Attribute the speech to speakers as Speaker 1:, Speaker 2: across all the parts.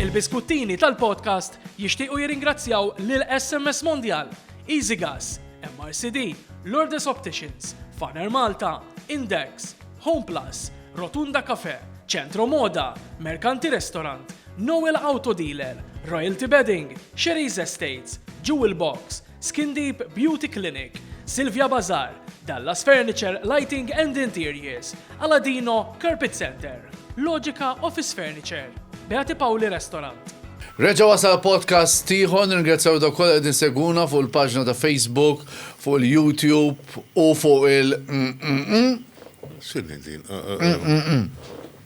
Speaker 1: Il-biskuttini tal-podcast jixtiequ jirringrazzjaw lil SMS Mondial, EasyGas, MRCD, Lourdes Opticians, Faner Malta, Index, Home Plus, Rotunda Cafe, Centro Moda, Mercanti Restaurant, Noel Auto Dealer, Royalty Bedding, Sherry's Estates, Jewel Box, Skin Deep Beauty Clinic, Silvia Bazaar, Dallas Furniture, Lighting and Interiors, Aladino Carpet Center, Logica Office Furniture, Beati Paoli Restaurant. Reġa wasal
Speaker 2: podcast tiħon, ringrazzjaw da kolla għedin seguna fuq il-pagġna ta' Facebook, fuq il-YouTube u fuq il- Xinni
Speaker 3: din?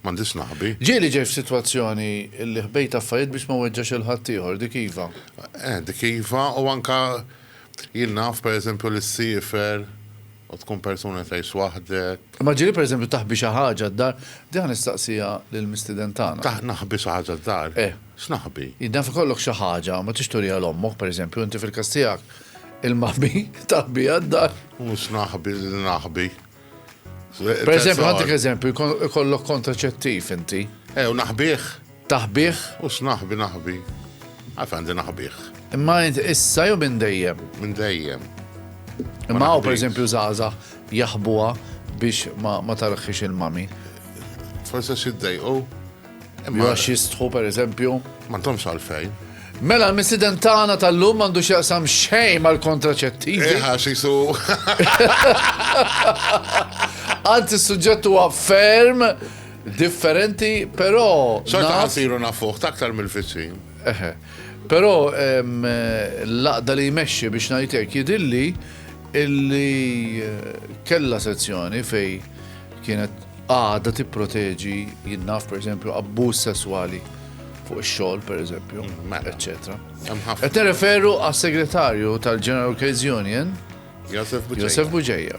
Speaker 3: M'għandi x'naħbi. Ġieli ġej f'sitwazzjoni
Speaker 2: li ħbejt affarijiet biex ma weġġax 'il ħaddieħor, dik iva. Eh, dik iva,
Speaker 3: u anke jien naf, per eżempju, li ssiefer u tkun persuna li tgħix waħdek. Imma ġieli per eżempju taħbi
Speaker 2: xi ħaġa d-dar, din ħa nistaqsiha lill-mistieden tagħna. Taħ, naħbi xi ħaġa
Speaker 3: d-dar? Eh. X'naħbi? Jien naf ikollok xi
Speaker 2: ħaġa, ma trix turiha 'l ommok, per eżempju, inti fil-każ tiegħek, il-maħbi taħbiha d-dar. U x'naħbi
Speaker 3: li naħbi?
Speaker 2: Per eżempju, għandek eżempju, ikollok kontraċettiv inti. Ew, naħbih.
Speaker 3: Taħbih?
Speaker 2: U x'naħbi
Speaker 3: naħbi. Għaf għandi naħbih. Imma issa
Speaker 2: jew minn dejjem? Minn dejjem.
Speaker 3: Imma
Speaker 2: għaw, per eżempju, zaza jaħbuha biex ma tarħix il-mami. Forse
Speaker 3: xiddej, u? Imma
Speaker 2: għax jistħu per eżempju. Ma ntomx għalfejn.
Speaker 3: Mela, l-missiden
Speaker 2: tagħna tal-lum għandu x'jaqsam xejn mal-kontraċettivi. Eħa, xisu. Anzi, s-suġġett huwa ferm differenti, però. Xorta għasiru
Speaker 3: nafuħ, taktar mill-fiċin. Eħe. Però
Speaker 2: l-laqda li jmexxi biex ngħidlek jidilli illi eh, kella sezzjoni fej Kienet għada tipproteġi jinnaf pereżempju abbuż sesswali fuq ix-xogħol pereżempju, mela. eċċetera. Qed nirreferu għas-segretarju tal-General Case Union, Josef Buġeja.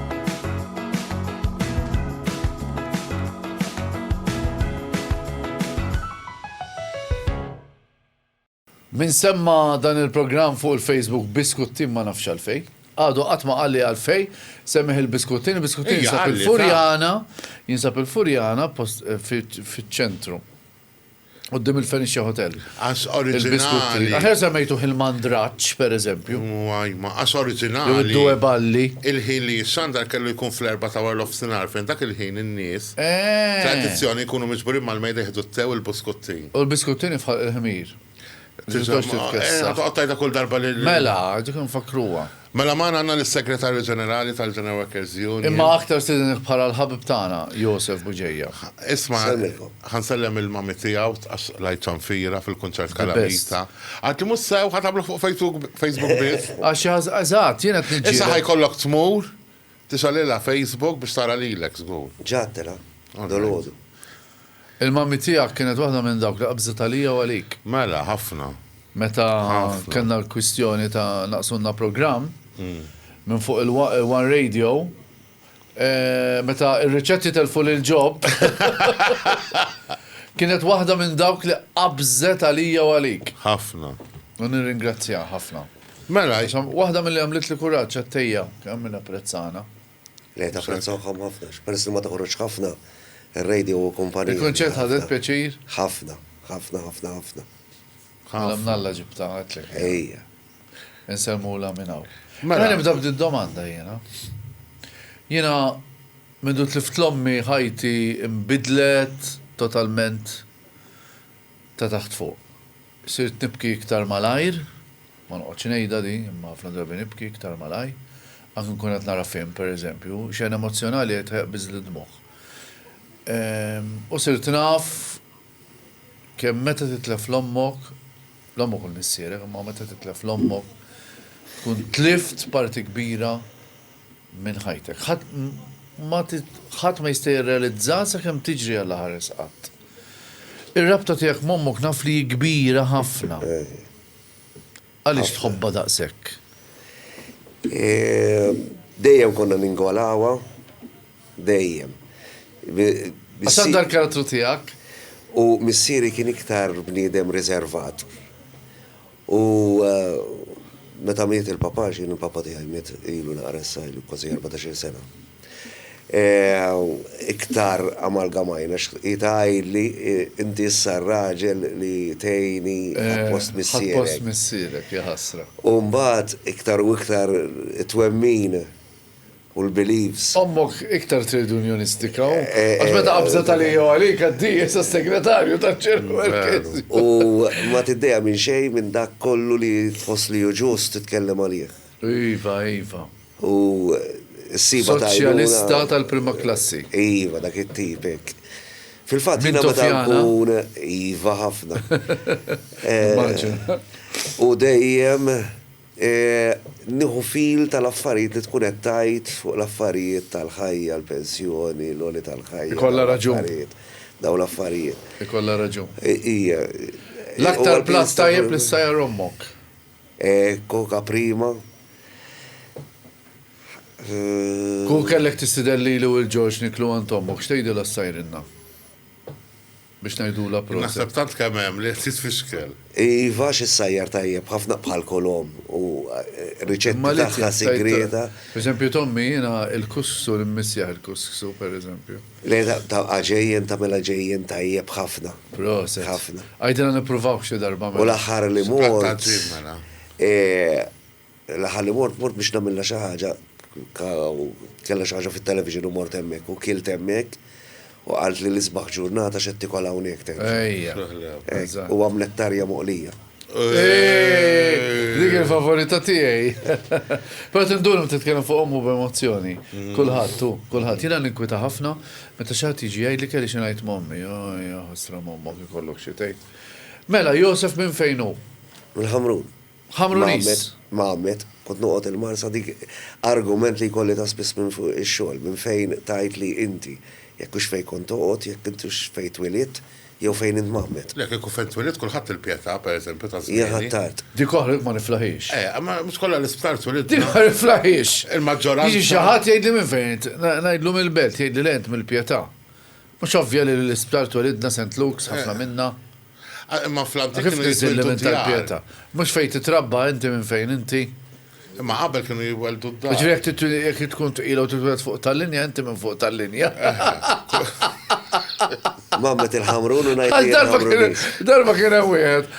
Speaker 2: Min semma dan il-programm fuq il-Facebook Biskuttin ma nafx għalfejn. Għadu qatt ma qalli għalfej, semmiħ il-biskuttin, il-biskuttin jinsab il-Furjana, jinsab il-Furjana eh, fiċ-ċentru. Quddiem il-Fenicia Hotel. Qas
Speaker 3: oriġinali. Aħjar semmejtuh
Speaker 2: il-Mandraċ, pereżempju. Għajma, qas
Speaker 3: oriġinali. Jew id-Due Balli.
Speaker 2: Il-ħin li jissandar
Speaker 3: kellu jkun fl-erba' ta' wara l-ofsinhar fejn dak il-ħin in-nies tradizzjoni jkunu miġburin mal-mejda jieħdu t-te u l-buskuttin. U l-biskuttin ifħalq
Speaker 2: il-ħmir. Tiżdax titkessa.
Speaker 3: Għattajta kull darba li. Mela, dik nfakruwa.
Speaker 2: Mela ma għanna
Speaker 3: l-Segretarju Ġenerali tal-Ġeneral Workers Union. Imma aktar sidin
Speaker 2: bħala l-ħabib tagħna, Josef Buġeja. Isma,
Speaker 3: ħansellem il-mami tiegħu għax lajċan fira fil-kunċert kalamita. Għad li mussew ħatablu fuq Facebook biss. Għax eżatt,
Speaker 2: jiena t-nġi. Issa ħajkollok tmur
Speaker 3: Tista' lilha Facebook biex tara lilek żgur. Ġgħattela,
Speaker 4: dolodu.
Speaker 2: Il-mummy tiegħek kienet waħda minn dawk li qabżet għalija u għalik. Mela, ħafna.
Speaker 3: Meta
Speaker 2: kellna l-kwistjoni ta' naqqsulna programm minn fuq il-one radio, meta r-riċetti telfu lil Job, kienet waħda minn dawk li qabżet għalija u għalik. Ħafna. U
Speaker 3: nirringrazzjaha
Speaker 2: ħafna. Mela, jisom,
Speaker 3: waħda mill-li għamlitli
Speaker 2: kuraġġ għat-tejja, kemm min apprezzana. Le,
Speaker 4: tapprezzawhom ħafna, peress li ma toħroġx ħafna, ir-radio hu kumpanija. Il-kunċert ħadet pjaċir?
Speaker 2: Ħafna,
Speaker 4: ħafna, ħafna, ħafna.
Speaker 2: Mela minn Alla ġibtha, għedtlek. Ejja.
Speaker 4: Insellmulha
Speaker 2: minn hawn. Mela. Mela nibda
Speaker 3: b'did-domanda
Speaker 2: jiena. Jiena mindu tlift l-ommi ħajti imbidlet totalment ta' taħt fuq. Sirt nibki iktar malajr, ma noqgħodx ngħidha di, imma ħafna drabi nibki iktar malajr, anki nkun qed nara film, per eżempju, xena emozzjonali qed iħbiżli d-dmugħ. U sirt naf kemm meta titlef 'l ommok, 'l ommok u 'l missierek, imma meta titlef 'l ommok, tkun tlift parti kbira minn ħajtek. Ħadd ma ħadd ma jista' jirrealizza sakemm tiġri għal ħares qatt. Ir-rabta tiegħek m'ommok naf li kbira ħafna. Għaliex tħobbha daqshekk?
Speaker 4: Dejjem konna ningolawha, dejjem.
Speaker 2: Għax għandha l-karattru tiegħek. U
Speaker 4: missieri kien iktar bniedem riservat. U meta miet il-Papa, x'jien il-Papa tiegħi miet ilu naqra issa, ilu kważi erbatax-il sena, iktar amalgamajna hi tgħidli, inti issa r-raġel li tgħinni ħadt post missierek. Ħadt post missierek,
Speaker 2: jaħasra. U mbagħad
Speaker 4: iktar u iktar it-twemmin u l-beliefs. Ommok iktar
Speaker 2: trade unionistika u għax meta qabżet għalija u għalik għaddi issa s-segretarju taċ-ċer Marchesi. U
Speaker 4: ma tiddejja minn xejn minn dak kollu li tħoss li hu ġust titkellem għalih. Iva, iva.
Speaker 2: U
Speaker 4: ssibha ta' għajnuna. Soċjalista tal-prima
Speaker 2: klassi. Iva, dak it-tip
Speaker 4: hekk. Fil-fatt jiena meta nkun. Mintofjana. Iva ħafna. Immaġina. U dejjem Nieħu fil tal-affarijiet li tkun qed tgħid fuq l-affarijiet tal-ħajja, l-pensjoni, l-għoli tal-ħajja. Ikollha raġun.
Speaker 2: Dawn
Speaker 4: l-affarijiet. Ikollha raġun.
Speaker 2: Hija.
Speaker 4: L-aktar
Speaker 2: platt tajjeb li ssajjar ommok.
Speaker 4: Coca prima. Kieku
Speaker 2: kellek tistieden lili u lil George niklu għand ommok, x'tgħidilha ssajrilna? biex ngħidulha proset. Naħseb tant kemm hemm li
Speaker 3: qed titfixkel. Iva għax
Speaker 4: issajjar tajjeb ħafna bħal kolom u r-riċetti tagħha sigrieta. Pereżempju t'ommi
Speaker 2: jiena il-kussu l-immissieħ il-kussu pereżempju. Le ta'
Speaker 4: għaġejjen tagħmilha ġejjen tajjeb ħafna. Proset. Ħafna.
Speaker 2: Għidilha
Speaker 4: nippruvawh
Speaker 2: xi darba mela. U l-aħħar li mort.
Speaker 3: Sprat ta' ġimgħa.
Speaker 4: L-aħħar li mort, mort biex nagħmilha xi ħaġa, kellha xi ħaġa fit-television u mort hemmhekk u kilt hemmhekk u qaltli l-isbaħ ġurnata x'qed tikol hawnhekk tgħid. Ejja.
Speaker 2: Hekk, u għamlet
Speaker 4: tarja moqlija.
Speaker 2: Dik il-favorita tiegħi. Però tindur meta titkellem fuq ommu b'emozzjoni. Kulħadd hu, kulħadd. Jiena ninkwita ħafna meta xi ħadd jiġi jgħidli kelli xi ngħid m'ommi. Oj, jaħasra m'ommok ikollok xi tgħid. Mela, Joseph minn fejn hu? Mill-Ħamrun.
Speaker 4: Ħammru nies.
Speaker 2: Mgħammed,
Speaker 4: kont noqgħod il-Marsa dik argument li jkolli ta' spiss minn fuq ix-xogħol, minn fejn tgħid li inti, jekk hux fejn kont toqgħod, jekk int hux fejn twielidt, jew fejn int mgħammed. Le, kieku fejn twielidt
Speaker 3: kulħadd il-pjetà, per eżempju, ta' żmieni. Hija ħattart. Dik oħra
Speaker 4: li ma niflaħiex.
Speaker 2: Eh, imma mhux kollha
Speaker 3: l-isptar twilidna. Din ma niflaħiex.
Speaker 2: Il-maġġoranza. Jiġi xi
Speaker 3: ħadd jgħidli minn
Speaker 2: fejn int, ngħidlu mill-belt, jgħidli le int mill-pjetà. Mhux ovvja li l-isptar twelidna Saint Luke's, ħafna minna? Imma
Speaker 3: fl-antik kienu jitwildu
Speaker 2: d-djar. Mhux fejn titrabba inti minn fejn inti? Imma qabel
Speaker 3: kienu jweldu d-dar. Jiġifieri jekk tkun
Speaker 2: tqila u titweled fuq tal-linja inti minn fuq tal-linja.
Speaker 4: Mammet il-Ħamrun u ngħid li jien Ħamrunis. Darba kien hemm
Speaker 2: wieħed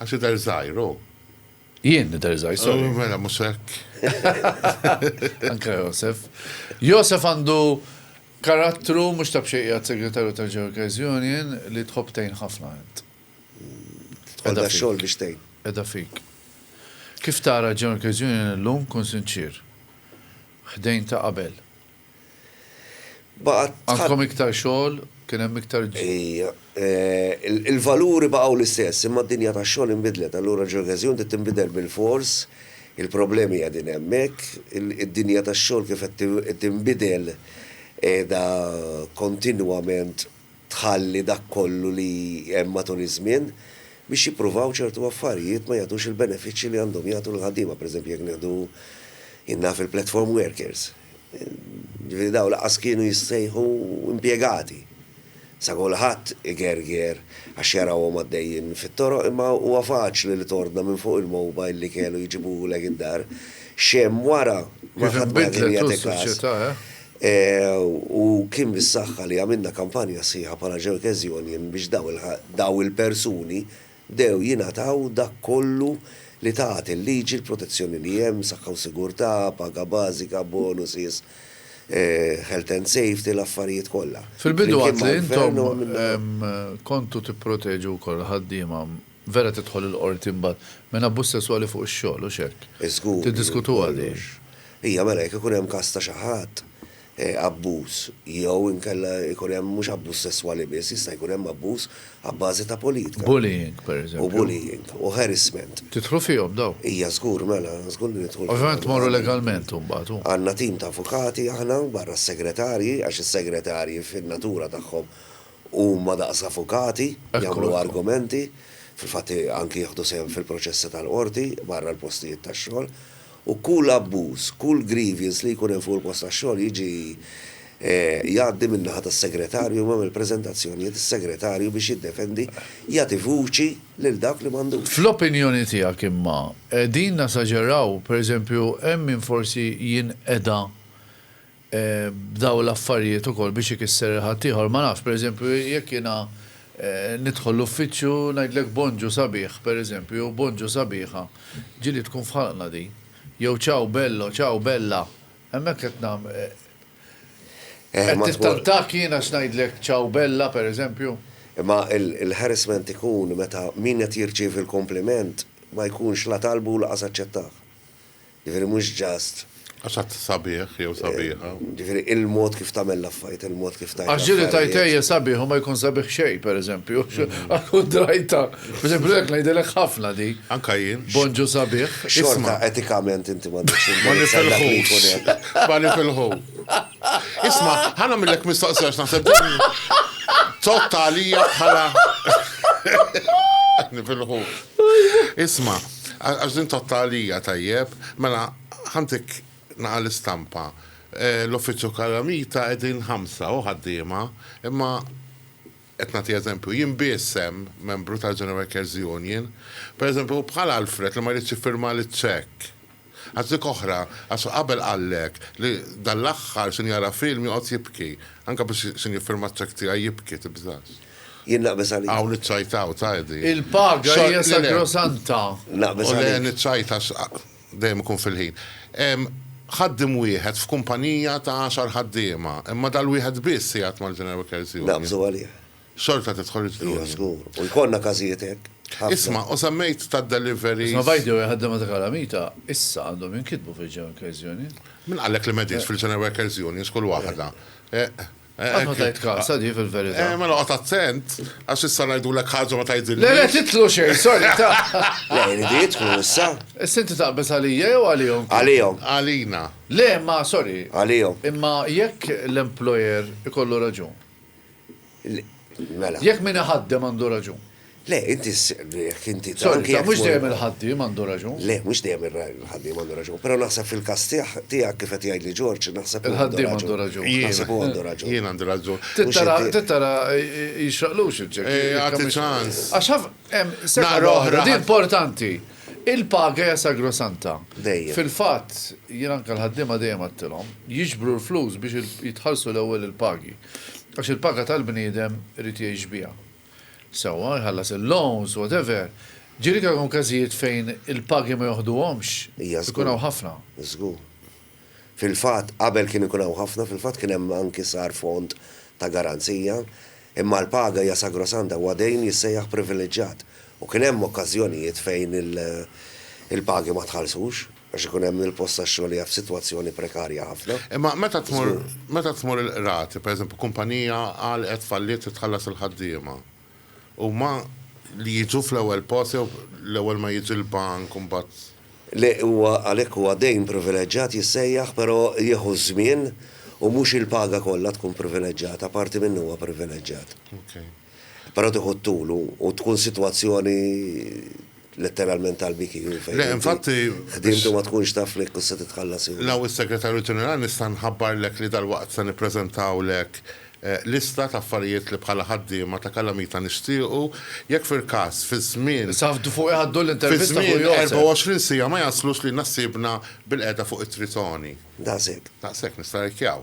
Speaker 2: Għax
Speaker 3: idher żgħir hu. Jien
Speaker 2: nidher żgħir, sorry. Mela mhux hekk. Anke Josef. Josef għandu karattru mhux ta' b'xejn qiegħed segretarju tal-Ġeocares Union li tħobb tgħin ħafna int.
Speaker 4: Għandha xogħol biex tgħin. Qiegħda fik.
Speaker 2: Kif tara Ġeocares Union illum kun sinċier. Ħdejn ta' qabel. Baqgħet. Għandkom iktar xogħol, kien hemm iktar. Ija.
Speaker 4: Il-valuri baqgħu l-istess, imma d-dinja tax-xogħol inbidlet. Allura ġeograżija bdiet tinbidel bilfors, il-problemi qegħdin hemmhekk, id-dinja tax-xogħol kif qed tinbidel qiegħda kontinwament tħalli dak kollu li hemm matul iż-żmien biex jippruvaw ċertu affarijiet ma jagħtux il-benefiċċji li għandhom jagħtu lill-ħaddiema, pereżempju jekk nieħdu, jien naf il-platform workers, jiġifieri dawn lanqas kienu jissejħu impjegati. Sa kulħadd igerger għax jarahom għaddejjin fit-toroq imma huwa faċli li tordna minn fuq il-mobile li kelu jġibulek id-dar, x'hemm wara ma ħadd ma jagħtik
Speaker 2: kas.
Speaker 4: U kien bis-saħħa li għamilna kampanja sħiħa bħala Jerkes Union biex dawn il-persuni bdew jingħataw dak kollu li tat il-liġi, l-protezzjoni li hemm, saħħa u sigurtà, paga bażika, bonuses, health and safety, l-affarijiet kollha. Fil-bidu għedt li
Speaker 2: intom kontu tipproteġu wkoll l-ħaddiema. Vera tidħol il-Qorti mbagħad. Minn abbuż sesswali fuq ix-xogħol, hux hekk? Żgur. Tiddiskutuha
Speaker 4: din.
Speaker 2: Hija mela jekk
Speaker 4: ikun hemm każ ta' xi ħadd abbuż jew inkella jkun hemm mhux abbuż sesswali biss, jista' jkun hemm abbuż abbażi ta' politika. Bullying, pereżempju. U
Speaker 2: bullying, u
Speaker 4: harassment. Tidħlu fihom dawn?
Speaker 2: Hija żgur, mela,
Speaker 4: żgur li nidħlu fihom. Ovvjament tmorru legalment
Speaker 2: imbagħad, hu. Għandna tim ta' avukati
Speaker 4: aħna, barra s-segretarji, għax is-segretarji fin-natura tagħhom Huma daqs avukati, jagħmlu argumenti, fil-fatt anki jieħdu sehem fil-proċessi tal-qorti barra l-postijiet tax-xogħol, u kull abbuż, kull grievance li jkun hemm fuq il-post tax-xogħol jiġi jgħaddi min-naħa tas-segretarju imma mill-preżentazzjonijiet is-segretarju biex jiddefendi jagħti vuċi lil dawk li m'għandux. Fl-opinjoni tiegħek
Speaker 2: imma qegħdin nasaġeraw? Per eżempju hemm min forsi jinqeda b'dawn l-affarijiet ukoll biex ikisser lil ħaddieħor, ma nafx, pereżempju, jekk jiena nidħol l-uffiċċju ngħidlek bonġu sabiħ, pereżempju, jew bonġu sabiħa, ġieli tkun f'ħalqna din. Jew ciao bello, ciao bella. Hemmhekk qed qed nittantak jien għax ngħidlek ciao bella, pereżempju. Imma
Speaker 4: l-harassment ikun meta min qed jirċievi l-kumpliment ma jkunx la talbu u lanqas aċċettah. Jiġifieri mhux just. Għax għad sabiħ
Speaker 3: jew sabiħa. Jiġifieri il-mod
Speaker 4: kif tagħmel l-affarijiet, il-mod kif tgħid l-affarijiet. Għax ġieli tgħid ejja
Speaker 2: sabiħ u ma jkun sabiħ xejn pereżempju. Għall-kuntrajta. Pereżempju hekk ngħidilek ħafna di. Anke jien. Bonġu
Speaker 3: sabiħ.
Speaker 2: Xorta etikament
Speaker 4: inti m'għandekx il-dritt.
Speaker 3: Ma nifilħux. Isma' ħa nagħmillek mistoqsija għax naħseb din totta għalija bħala nifilħux. Isma'. Għax din tgħoddha għalija tajjeb. Mela, ħa ntik naqa' l-istampa. L-uffiċċju Calamita qegħdin ħamsa, hu ħaddiema, imma, qed nagħti eżempju, jien biss hemm membru tal-General Workers' Union. Pereżempju, bħal Alfred li ma jridx jiffirmali ċ-ċekk. Għażlik oħra, għax qabel qallek li dan l-aħħar sin jara film joqgħod jibki. Anke biex sin jiffirma ċ-ċekk tiegħi jibki, tibżax. Jien naqbeż għalik.
Speaker 4: Hawn iċ-ċajt hawn, tgħidi.
Speaker 3: Il-paga hija
Speaker 2: sagrosanta. Naqbeż għalik. Le,
Speaker 3: niċċajt
Speaker 4: għax
Speaker 3: dejjem ikun fil-ħin. Hemm ħaddiem wieħed f'kumpanija ta' għaxar ħaddiema, imma dal-wieħed biss jgħid mal-General Workers Union. Naqbeżu għalih.
Speaker 4: xorta tidħol
Speaker 3: il-fdija. Iva, żgur. U
Speaker 4: jkollna każijiet hekk. Isma', u semmejt
Speaker 3: tad-deliveries. Isma' by the way,
Speaker 2: ħaddiema
Speaker 3: ta'
Speaker 2: kalamita issa għandhom jinkitbu fil-General Workers Union. Min qallek li m'qegħdinx
Speaker 3: fil-General Workers Union x'kull waħda?
Speaker 2: Qatt ma tajt kasha di fil-verità. Mela oqgħod attent
Speaker 3: għax issa ngħidulek ħaġa u ma tgħidilniex. Le le titlu xejn,
Speaker 2: sorry ta'. Le jridu
Speaker 4: jidħlu issa. Issa inti taqbeż
Speaker 2: għalija jew għalihom? Għalihom. Għalina.
Speaker 4: Le
Speaker 3: imma sorry.
Speaker 2: Għalihom. Imma
Speaker 4: jekk
Speaker 2: l-employer ikollu raġun.
Speaker 4: Mela. Jekk min
Speaker 2: iħaddem għandu raġun. Le, inti
Speaker 4: jekk inti. Sorry, mhux dejjem
Speaker 2: il-ħaddiem għandu raġun. Le, mhux dejjem
Speaker 4: il-ħaddiem għandu raġun, però naħseb fil-każ tiegħek kif qed jgħidli Ġorġ, naħseb il-ħaddiem għandu raġun.
Speaker 2: Naħseb huwa għandu raġun.
Speaker 4: Jien għandi raġun.
Speaker 3: Tittara
Speaker 2: jixraqlux il-ċek. Għati ċans.
Speaker 3: Għax hemm
Speaker 2: sena oħra
Speaker 3: importanti.
Speaker 2: Il-paga hija sagrosanta. Dejjem. Fil-fatt, jien anke l-ħaddiema dejjem għattilhom, jiġbru l-flus biex jitħallsu l-ewwel il-pagi. Għax il-paga tal-bniedem irid jgħix biha. Sewwa, jħallas il-loans, whatever. Ġieli kemm hawn każijiet fejn il-pagi ma joħduhomx. Hija żgur. Ikun hawn
Speaker 4: ħafna.
Speaker 2: Żgur.
Speaker 4: Fil-fatt, qabel kien ikun hawn ħafna, fil-fatt kien hemm anki sar fond ta' garanzija. Imma l-paga hija sagrosanta, huwa dejn jissejjaħ privileġġjat. U kien hemm okkażjonijiet fejn il-pagi ma tħallsux. Għax ikun hemm il-post tax-xogħol qiegħed f'sitwazzjoni prekarja ħafna. Imma meta tmur,
Speaker 3: meta tmur il-qrati, pereżempju kumpanija għalqet, falliet trid tħallas il-ħaddiema. Huma li jiġu fl-ewwel post jew l-ewwel ma jiġi l-bank u mbagħad. Le, huwa
Speaker 4: għalhekk huwa dejn privileġġat jissejjaħ, però jieħu ż-żmien u mhux il-paga kollha tkun privileġġata, parti minnu huwa privileġġat. Però tieħu t-tul u tkun sitwazzjoni letteralment tal-BQU fejn. Le, infatti.
Speaker 3: Ħdimtu ma tkunx
Speaker 4: taf li jekk se titħallas jew. Law
Speaker 3: is-Segretarju Ġenerali nista' nħabbarlek li dalwaqt se
Speaker 4: nippreżentawlek
Speaker 3: lista ta' affarijiet li bħala ħaddiema ta' Kalamita nixtiequ jekk fil-każ fiż-żmien. Issa ħaftu fuq iħaddu
Speaker 2: l-intervista
Speaker 3: fuq
Speaker 2: Josef. Fiż-żmien
Speaker 3: 24 siegħa
Speaker 2: ma jaslux
Speaker 3: lilna ħsiebna bil-qiegħda fuq it-Tritoni. Daqshekk. Daqshekk,
Speaker 4: nistarrikjaw.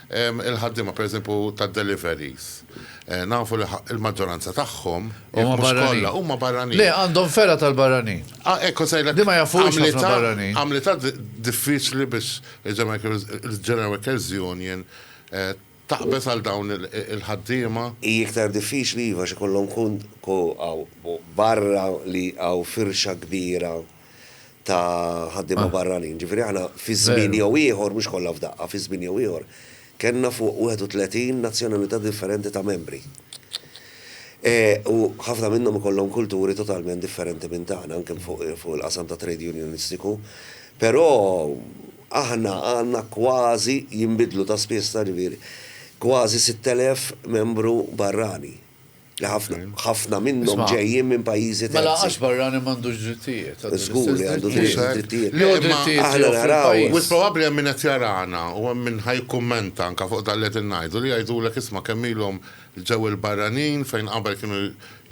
Speaker 3: Il-ħaddiema pereżempju tad-deliveries, nafu li l-maġġoranza tagħhom, jekk mhux kollha, huma barranin. Le, għandhom fergħa
Speaker 2: tal-barranin. Ah, hekk kont sejrlek. Li
Speaker 3: ma jafuhiex ħafna
Speaker 2: barranin. Għamlitha
Speaker 3: diffiċli biex il-General Workers Union taqbeż għal dawn il-ħaddiema. Hi iktar diffiċli,
Speaker 4: iva, għax ikollhom barra li hawn firxa kbira ta' ħaddiema barranin. Ġifieri aħna fi żmien jew ieħor, mhux kollha f'daqqa, fi żmien jew ieħor, kellna fuq 31 nazzjonalità differenti ta' membri. U ħafna minnhom ikollhom kulturi totalment differenti minn tagħna, anke fuq il-qasam ta' trade unionistiku. Però aħna għandna kważi, jinbidlu ta' spiss, ta' ġifieri, kważi 6,000 membru barrani. Li ħafna, ħafna minnhom ġejjin minn pajjiżi terzi. Mela għax barrani
Speaker 2: m'għandux drittijiet, għandu l-istess
Speaker 4: drittijiet. Żgur li għandu l-istess drittijiet. Le,
Speaker 2: imma aħna naraw. Wis
Speaker 4: probabbli hemm min
Speaker 2: qed
Speaker 3: jarana u hemm min ħa jikkummenta anke fuq dak li qegħdin ngħidu li jgħidulek isma' kemm ilhom ġew il-barranin fejn qabel kienu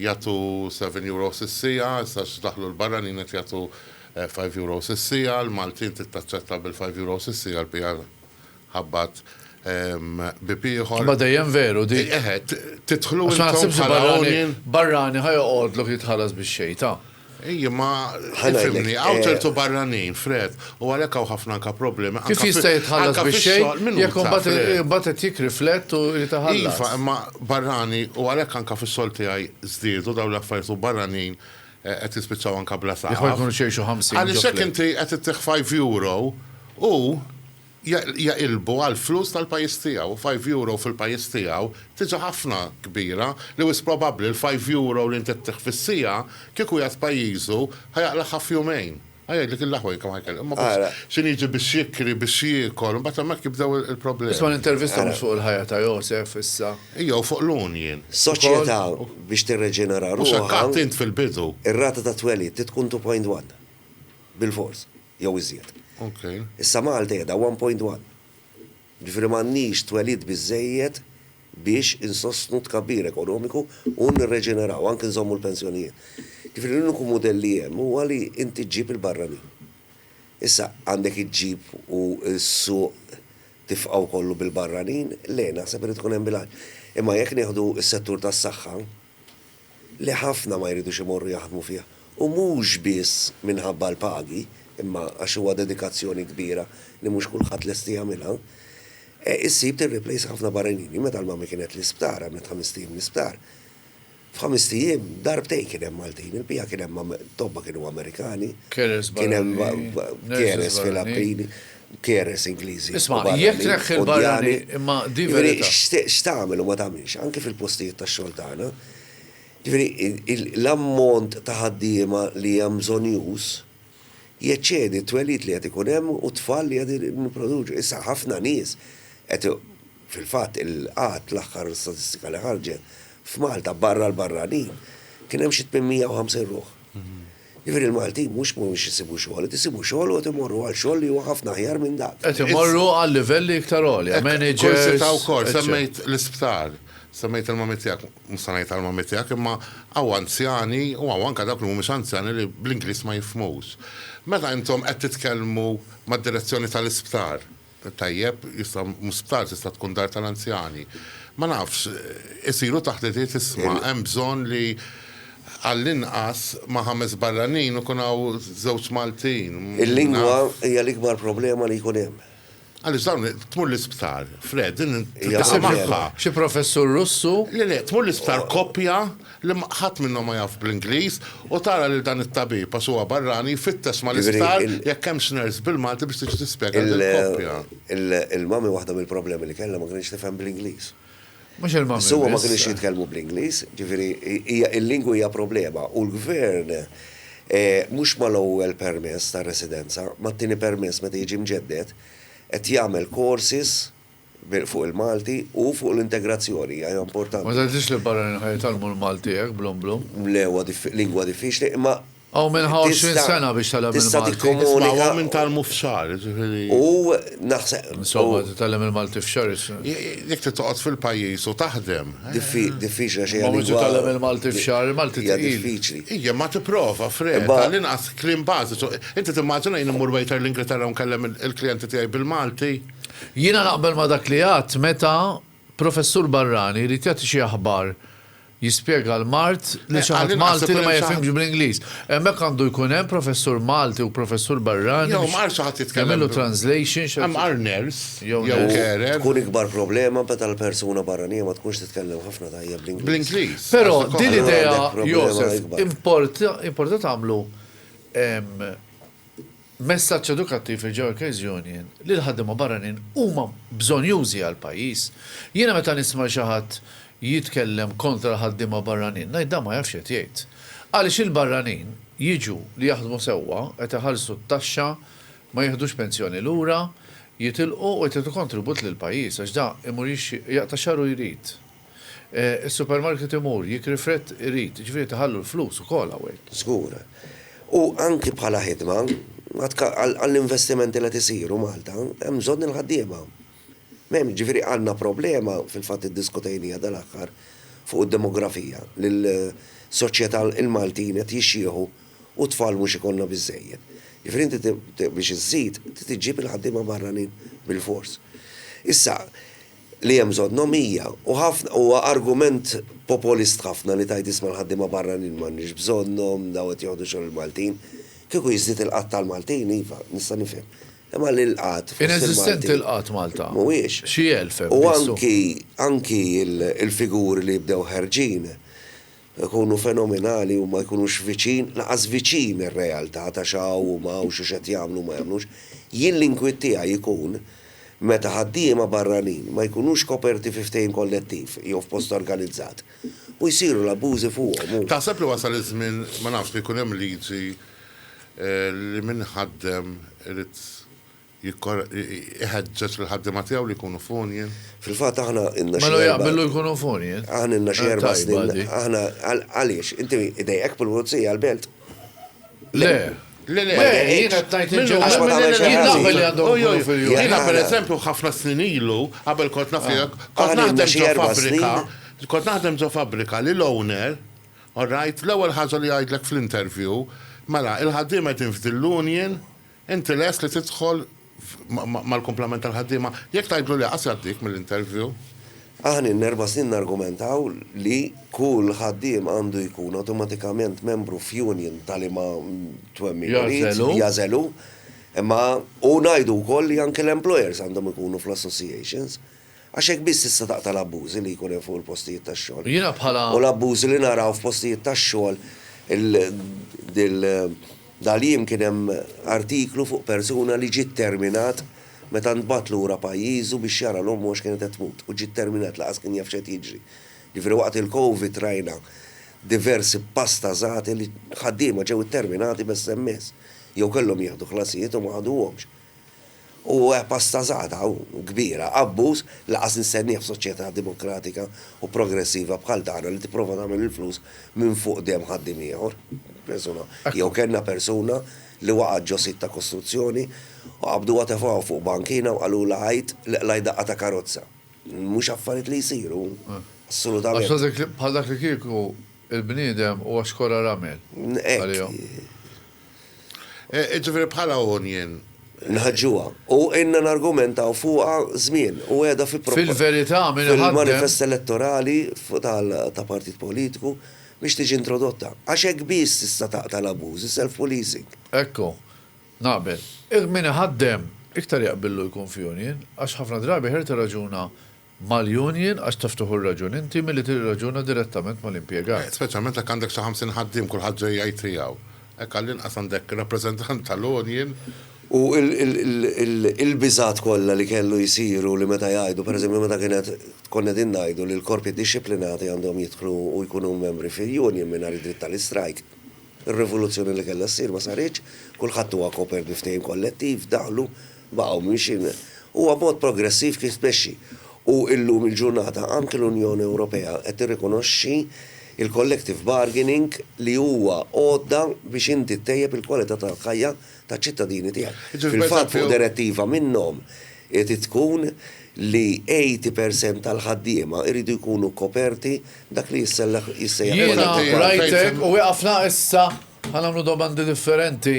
Speaker 3: jagħtu seven euros is-siegħa, issa għax daħlu l-barranin qed jagħtu five euros is-siegħa, l-Maltin trid taċċetta bil-five euros is-siegħa l-bqija Ħabbat bieb ieħor. Imma dejjem veru
Speaker 2: di. Eħe, tidħlu intom bħala union.
Speaker 3: Għax ma naħsibx li
Speaker 2: barrani,
Speaker 3: barrani
Speaker 2: ħa
Speaker 3: joqgħodlok
Speaker 2: jitħallas bix-xejn, ta. Ej, imma
Speaker 3: tifhimni,
Speaker 4: hawn ċertu
Speaker 3: barranin, Fred, u għalhekk hawn ħafna anke problemi, anke fix-xogħol. Kif jista' jitħallas
Speaker 2: bix-xejn jekk imbagħad qed jikkriflett u jrid iħallas? Iva, imma
Speaker 3: barrani, u għalhekk anke fix-xogħol tiegħi żdiedu dawn l-affarijiet u barranin qed jispiċċaw anke bla saqaf. Jekk ma jkunux jgħixu
Speaker 2: ħamsin.
Speaker 3: Għaliex
Speaker 2: jekk inti qed
Speaker 3: ittih five euro u jaqilbu għall-flus tal-pajjiż tiegħu u five euro fil-pajjiż tiegħu tiġa ħafna kbira li wisq probabbli l-five euro li int qed ttiħħ fis-siegħa kieku qiegħed pajjiżu ħa jaqlagħha f'jumejn. Ħa jgħidlek il-aħwa kemm ħa jkellem. Imma biss x'inhu jiġi biex jikri, biex jiekol, imbagħad hemmhekk jibdew il-problemi. Isma' l-intervista mhux fuq
Speaker 2: il-ħajja ta' Josef issa. Ija u fuq l-union.
Speaker 3: Soċjetà
Speaker 4: biex tirreġenera ruħha. Mhux hekk għedt int
Speaker 3: fil-bidu. Ir-rata tat-twelid
Speaker 4: trid tkun two point one. Bilfors. jew iżjed. Issa
Speaker 3: Malta qiegħda
Speaker 4: 1.1. Jiġifieri m'għandniex twelid biżżejjed biex insostnu t-tkabbir ekonomiku u nirreġeneraw, anke nżommu l-pensjonijiet. Jiġifieri l-uniku mudell li hemm huwa li inti ġġib il-barranin. Issa, għandek iġġib u s-suq tifqgħu kollu bil-barranin? Le, naħseb irid ikun hemm bilanċ. Imma jekk nieħdu s-settur tas-saħħa, li ħafna ma jridux imorru jaħdmu fih u mhux biss minħabba l-pagi imma għax huwa dedikazzjoni kbira li mhux kulħadd lesti jagħmilha. Issib tirriplejsa ħafna barranini, meta l-mami kienet l-isptar għamlet ħamest ijiem l-isptar. F'ħamest ijiem darbtejn kien hemm Maltin, il-bqija kien hemm tobba kienu Amerikani, kien hemm carers fil-Appini. carers Ingliżi. Isma', jekk tneħħi
Speaker 2: l-barrani, imma di verità. Jiġifieri x'tagħmel u ma
Speaker 4: tagħmilx, anke fil-postijiet tax-xogħol tagħna, jiġifieri l-ammont ta' ħaddiema li hemm bżonn jus, jeċċedi t-twelid li qed ikun hemm u t-tfal li qed nipproduċu. Issa ħafna nies qed fil-fatt il-qgħad l-aħħar statistika li ħarġet f'Malta barra l-barranin kien hemm xi 850 ruħ. Jiġifieri l-Maltin mhux mhumiex isibu xogħol, qed isibu xogħol u qed imorru għal xogħol li huwa ħafna aħjar minn dak. Qed imorru għal
Speaker 2: livelli iktar għolja, managers. Kursi ta' wkoll, semmejt
Speaker 3: l-isptar, semmejt il-mommy tiegħek, mhux se ngħid għall-mommy tiegħek imma hawn anzjani u hawn anke dawk li mhumiex anzjani li bl-Ingliż ma jifhmux. Meta intom qed titkellmu mad-direzzjoni tal-isptar, Tajjeb, jista' mhux sptar, tista' tkun dar tal-anzjani. Ma nafx, isiru taħditiet isma' hemm bżonn li għall-inqas ma' ħames barranin ikun hawn żewġ Maltin. Il-lingwa
Speaker 4: hija l-ikbar problema li jkun hemm. Għaliex dawn
Speaker 3: tmur l-isptar, Fred, din titlaqa' magħha.
Speaker 2: Xi professur Russu. Le le, tmur l-isptar
Speaker 3: koppja. li ħadd minnhom ma jaf bl-Ingliż, u tara lil dan it-tabib, għax huwa barrani, jfittex mal-isptar jekk hemmx nurse bil-Malti biex tiġi tispjega
Speaker 4: lill-koppja. Il-mummy waħda
Speaker 3: mill-problemi
Speaker 4: li kellha ma kinitx tifhem
Speaker 3: bl-Ingliż.
Speaker 4: Mhux
Speaker 2: il-mummy biss. Biss huma ma kinux jitkellmu bl-Ingliż,
Speaker 4: jiġifieri hija il-lingwa hija problema u l-Gvern mhux mal-ewwel permess ta' residenza, mat-tieni permess meta jiġi mġedded, qed jagħmel courses, fuq il-Malti u fuq l-integrazzjoni hija hija importanti. Ma tgħidlix li l-barranin ħa
Speaker 2: jitgħallmu l-Malti hekk blum blum. Le huwa diffi lingwa
Speaker 4: diffiċli imma Hawn min ħa għoxrin
Speaker 2: sena biex tgħallem il-Malti. tista' tikkomunika Isma' u
Speaker 4: hawn min
Speaker 2: tgħallmu
Speaker 4: f'xahar,
Speaker 3: jiġifieri. u naħseb
Speaker 4: Insomma titgħallem
Speaker 2: il-Malti f'xahar is. Jekk trid
Speaker 3: toqgħod fil-pajjiż u taħdem. diffi diffiċli għax
Speaker 4: hija Imma biex lingwa titgħallem
Speaker 2: il-Malti f'xahar, il-Malti hija tqil. diffiċli.
Speaker 4: Ija, imma tipprova,
Speaker 3: Fred, Imma- għall-inqas kliem
Speaker 4: bażiċu.
Speaker 3: Inti timmaġina jien immur waiter l-Ingilterra u nkellem il-klijenti tiegħi bil-Malti? Jiena naqbel
Speaker 2: ma' dak li għadt meta professur barrani jrid jagħti xi aħbar jispjega l-mard lil xi ħadd Malti li ma jifhimx bl-Ingliż. Hemmhekk għandu jkun hemm professur Malti u professur barrani. Jew ma qalx xi ħadd jitkellem.
Speaker 3: Jagħmillu translation.
Speaker 2: Hemm qal nurse
Speaker 3: jew carer.
Speaker 2: Tkun
Speaker 3: ikbar problema
Speaker 4: meta l-persuna barranija ma tkunx titkellem ħafna tajjeb bl-Ingliż. Bl-Ingliż. Però
Speaker 3: din l-idea
Speaker 2: Josef
Speaker 4: importa tagħmlu
Speaker 2: Messaġġ edukattiv lil Joe Keziunian li l-ħaddiema barranin huma bżonjużi għall-pajjiż. Jiena meta nisma' li xi ħadd jitkellem kontra l-ħaddiema barranin ngħid dan ma jafx x'qed jgħid. Għaliex il-barranin jiġu li jaħdmu sewwa, qed iħallsu t-taxxa, ma jiħdux pensjoni lura, jitilqu u qed jagħtu kontribut lill-pajjiż għax da imur jixxi, jaqta' xagħru jrid. Is-supermarket imur, jikri frett irid, jiġifieri tiħallu l-flus ukoll hawnhekk. Żgur.
Speaker 4: U anki bħala ħidma, għall-investimenti li qed isiru Malta, hemm bżonn il-ħaddiema. M'hemm, jiġifieri għandna problema, fil-fatt iddiskutejniha dal-aħħar, fuq id-demografija, li l-soċjetà, il-Maltin qed jixjieħu u tfal mhux ikollna biżżejjed. Jiġifieri inti biex iżżid, trid iġġib il-ħaddiema barranin bilfors. Issa, li hemm bżonnhom hija, u ħafna, huwa argument popolist ħafna li tgħid isma' l-ħaddiema barranin m'għandniex bżonnhom, dawn qed joħdu xogħol il-Maltin. Kieku jiżdied il-qgħad tal-Maltin, iva, nista' nifhem. Imma li l-qgħad fost il-Maltin. Ineżistenti l-qgħad
Speaker 2: Malta. Mhuwiex. Xi elf hemm
Speaker 4: biss. U
Speaker 2: anki,
Speaker 4: anki l-figuri li jibdew ħerġin, Ikunu fenomenali u ma jkunux viċin, lanqas viċin ir-realtà ta' x'hawn u m'hawnx u x'qed jagħmlu u ma jagħmlux. Jien l-inkwiet tiegħi jkun meta ħaddiema barranin ma jkunux koperti fi ftehim kollettiv jew f'post organizzat u jsiru l-abbużi fuqhom u. Taħseb li wasal iż-żmien,
Speaker 3: ma nafx, li jkun hemm liġi li min ħaddem irid jħeġġeġ lill-ħaddiema tiegħu li jkunu f'union. Fil-fatt aħna
Speaker 4: ilna xi erba'. Mela jaqbel li jkunu
Speaker 2: f'union? Aħna ilna xi erba'
Speaker 4: snin. Tajba dik.
Speaker 2: Aħna
Speaker 4: għaliex? Inti idejqek pul-pulizija għall-belt? Le. Le, le,
Speaker 2: jiena qed
Speaker 3: ngħid in
Speaker 2: ġenerali. Għax ma tagħmel xi ħaġa. Jien
Speaker 4: naf li għandhom ikunu
Speaker 2: fil-union. Jiena pereżempju ħafna
Speaker 3: snin ilu, qabel kont naf tiegħek, kont naħdem ġo fabbrika,
Speaker 4: kont
Speaker 3: naħdem
Speaker 4: ġo fabbrika
Speaker 3: li l-owner, orajt, l-ewwel ħaġa li jgħidlek fl-interview, mela, il-ħaddiema qegħdin f'din l-union, Inti lest li tidħol mal-kumplament tal-ħaddiema? Jekk tgħidlu le, qas jgħaddik mill-interview. Aħna ilna
Speaker 4: erba' snin nargumentaw li kull ħaddiem għandu jkun awtomatikament membru f'union ta' liema twemmin irid,
Speaker 2: jagħżelu,
Speaker 4: imma u ngħidu wkoll li anke l-employers għandhom ikunu fl-associations. Għax hekk biss tista' taqta' l-abbużi li jkun hemm fuq il-postijiet tax-xogħol. Jiena bħala. U l-abbużi
Speaker 2: li naraw
Speaker 4: f'postijiet tax-xogħol dal-jiem kien hemm artiklu fuq persuna li ġie terminat meta ntbagħat lura pajjiżu biex jara 'l ommu għax kienet qed tmut u ġie terminat lanqas kien jaf x'qed jiġri. Jiġifieri waqt il-Covid rajna diversi pasta żgħati li ħaddiema ġew itterminati b'SMS jew kellhom jieħdu ħlasijiet u ma ħaduhomx. U hekk bastażata u kbira, abbuż, lanqas nistennieh f'soċjetà demokratika u progressiva bħal tagħna li tipprova tagħmel il-flus minn fuq demm ħaddiem ieħor. Persuna, jew kellna persuna li waqgħet ġo sit ta' kostruzzjoni u qabduha tefgħuha fuq bankina u qalulha għid li qlajt daqqa ta' karozza. Mhux affarijiet li jsiru, assolutament. Għax dak bħal dak
Speaker 2: li kieku il-bniedem huwa xkora ramel għalihom. Hekk.
Speaker 3: Jiġifieri bħala union. Nħaġġuha.
Speaker 4: U ilna nargumentaw fuqha żmien u qiegħda fi proposta. Fil-verità min
Speaker 2: iħaddem. Fil-manifest elettorali
Speaker 4: ta' partit politiku biex tiġi introdotta. Għax hekk biss tista' taqta' l-abbużi, self policing. Ekku.
Speaker 2: Naqbel. Min iħaddem iktar jaqbillu jkun f'union għax ħafna drabi ħer tirraġuna mal-union għax taf tieħu r-raġun inti milli tirraġuna direttament mal-impjegat. Speċjalment jekk għandek xi
Speaker 3: ħamsin ħaddiem kulħadd ġej jgħid tiegħu. Hekk għall-inqas għandek rappreżentant tal-union. U
Speaker 4: l-biżgħat kollha li kellu jsiru li meta jgħidu, pereżempju meta kien qed konna qegħdin ngħidu li l-korpi dixxiplinati għandhom jidħlu u jkunu membri fil-union mingħajr id-dritt tal-istrajk. Ir-rivoluzzjoni li kellha ssir ma saritx, kulħadd huwa kopert bi ftehim kollettiv, daħlu, baqgħu miexjin. Huwa b'mod progressiv kif tmexxi. U llum il-ġurnata anki l-Unjoni Ewropea qed tirrikonoxxi l-collective bargaining li huwa għodda biex inti ttejjeb il-kwalità tal-ħajja taċ-ċittadini tiegħek. Fil-fatt fuq direttiva minnhom irid tkun li 80% tal-ħaddiema jridu jkunu koperti dak li jissellaħ jissejjaħ. Jiena rajtek
Speaker 2: u wieqafna issa ħa nagħmlu domandi differenti.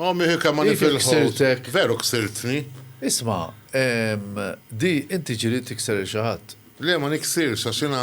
Speaker 2: O miħi kemm
Speaker 3: ma nifilħu. Veru ksirtni. Isma',
Speaker 2: di inti ġiri tikser il xi ħadd. Le ma niksirx
Speaker 3: għax jiena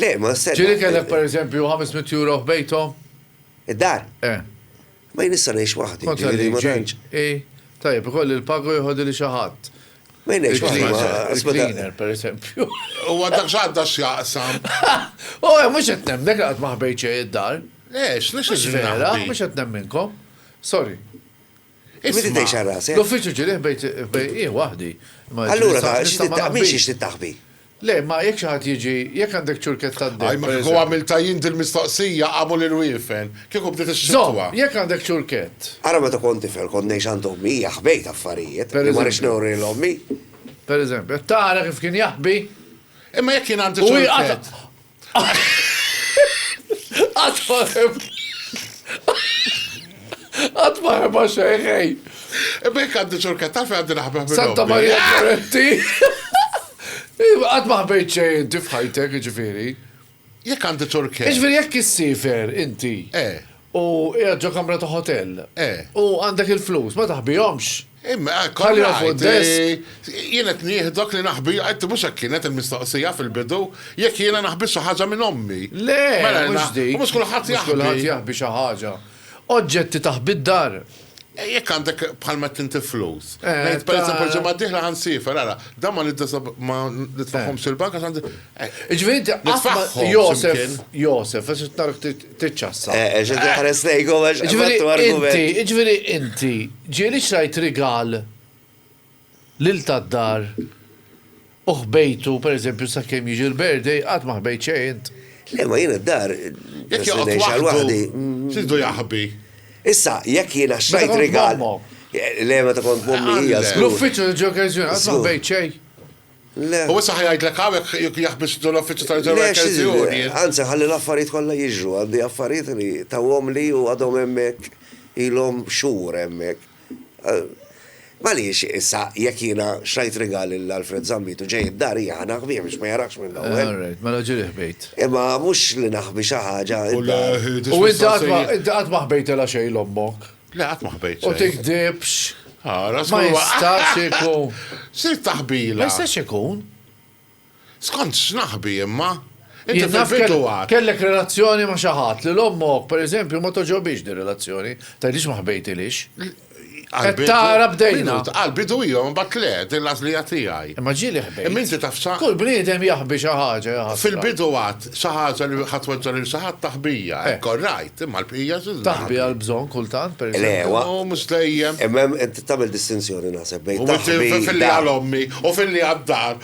Speaker 2: Le, ma
Speaker 4: s-sena. Ġieli kellek per eżempju
Speaker 2: 500 euro f'bejthom? Id-dar?
Speaker 4: Eh.
Speaker 2: Ma jien issa
Speaker 4: ngħix waħdi. Kont ġieli ma tantx.
Speaker 2: I, tajjeb,
Speaker 4: ikolli l-paga
Speaker 2: u jħodili xi ħadd. Ma jien ngħix waħdi.
Speaker 4: Il-cleaner, per eżempju.
Speaker 2: U għaddak
Speaker 3: x'għadda x'jaqsam. U oh, eh,
Speaker 2: mhux qed nemmek qatt ma ħbejt xejn id-dar. Ex, lex
Speaker 3: vera, mhux qed
Speaker 2: nemminkom. Sorry.
Speaker 4: L-uffiċċju ġirieħ
Speaker 2: bejn jien waħdi. Allura ta'
Speaker 4: xi tittaħbi, xiex tittaħbi? Le, imma jekk xi
Speaker 2: ħadd jiġi, jekk għandek ċurkett tad-deheb. Ajma kieku għamiltha
Speaker 3: jien dil-mistoqsija għamul il-wiefen, kieku bdiet ix-xitwa. Żomm, jekk għandek ċurkett.
Speaker 2: Ara meta kont tifel
Speaker 4: kont ngħix għand ommi, hija ħbejt affarijiet, li ma rridx nuri lil
Speaker 2: ommi.
Speaker 4: Pereżempju,
Speaker 2: qed tara kif kien jaħbi? Imma jekk jien
Speaker 3: għandi ċurkett. Qatt ma ħeb.
Speaker 2: Qatt ma ħeba xejn ħej. Bek
Speaker 3: għaddi ċurka tafi għaddi naħbeb minn Santa ommi. Maria Goretti.
Speaker 2: Qatt ma ħbejt xejn inti f'ħajtek, ġifieri. Jekk għandi
Speaker 3: ċurke. Ġifieri jekk issifer
Speaker 2: inti. Eh. U qiegħed ġo kamra ta' ħotell. Eh. U għandek il-flus, ma taħbihomx. Imma hekk Ħallihom
Speaker 3: fuq id-desk.
Speaker 2: Jien qed nieħdok
Speaker 3: li naħbi, qed mhux hekk kienet il-mistoqsija fil-bidu, jekk jiena naħbi xi ħaġa minn ommi. Le, mhux
Speaker 2: dik. U mhux kulħadd jaħbi. Mhux kulħadd
Speaker 3: jaħbi xi
Speaker 2: ħaġa. Oġġetti taħbi d-dar. Jekk għandek
Speaker 3: bħal meta inti flus. Eh, Ngħid pereżempju
Speaker 2: l-ġimgħa d-dieħla
Speaker 3: ħan siefer, ara, dan ma ma nitfagħhomx eh. il-bank għax għandi. Eh. Ġifieri inti
Speaker 2: nitfagħhom.
Speaker 3: Josef,
Speaker 2: Josef, għax
Speaker 3: tark
Speaker 2: tiċċassa. Eh, ġifieri tħares
Speaker 4: lejkom għax ġifieri inti, ġifieri
Speaker 2: inti, ġieli xrajt rigal Lil tad-dar u ħbejtu, per eżempju, sakemm jiġi l-birthday, qatt ma ħbejt xejn int. Le, ma jiena d-dar.
Speaker 4: Jekk joqgħod
Speaker 3: waħdu,
Speaker 4: x'ridu jaħbi?
Speaker 3: Issa, jekk
Speaker 4: jiena xtrajt rigal. Meta
Speaker 2: kont
Speaker 4: m'ommok. Le,
Speaker 2: meta kont
Speaker 4: m'ommi hija żgur. L-uffiċċju ta' Joe Garzuna,
Speaker 2: qatt ma ħbejt xejn. Le. U
Speaker 4: issa ħa jgħidlek hawn
Speaker 3: jekk jaħbi x'inhu l-uffiċċju ta' Joe Garzuna. Anzi, ħalli
Speaker 4: l-affarijiet kollha jiġru. Għandi affarijiet li tawhomli u għadhom hemmhekk, ilhom xhur hemmhekk. M'għaliex issa jekk jiena xtrajt rigal lil Alfred Zammit u ġej id-dar hija ħa naħbih biex ma jarahx mill-ewwel? All right, mela ġieli ħbejt.
Speaker 2: Imma mhux li
Speaker 4: naħbi xi ħaġa id-dar. U
Speaker 2: inti qatt ma ħbejtilha xejn 'l ommok? Le qatt ma ħbejt xejn.
Speaker 3: U tigdibx.
Speaker 2: Ara, żgur. Ma jistax
Speaker 3: ikun.
Speaker 2: X'trid taħbilha?
Speaker 3: Ma jistax
Speaker 2: ikun.
Speaker 3: Skont x'naħbi imma? Inti fil-bidu għad.
Speaker 2: Kellek
Speaker 3: relazzjoni ma'
Speaker 2: xi ħadd li l-ommok, per eżempju, ma togħġobhiex din relazzjoni, tgħidlix ma ħbejtilhiex. Qed tara bdejna. Għall-bidu iva, mbagħad
Speaker 3: le, din l-għażlija tiegħi. Imma ġieli ħbejt. Imma inti
Speaker 2: taf x'ha. Kull
Speaker 3: bniedem jaħbi xi ħaġa,
Speaker 2: ja ħasra. Fil-bidu għad, xi
Speaker 3: ħaġa li ħa tweġġa' lil xi ħadd taħbija, hekk all right, imma l-bqija xi ġnaħbi. Taħbi għall-bżonn
Speaker 2: kultant, per eżempju. Le, le. Mhux
Speaker 4: dejjem. Imma
Speaker 3: hemm, inti tagħmel
Speaker 4: distinzjoni naħseb bejn taħbi. U filli
Speaker 3: għal ommi,
Speaker 4: u filli
Speaker 3: għad-dar,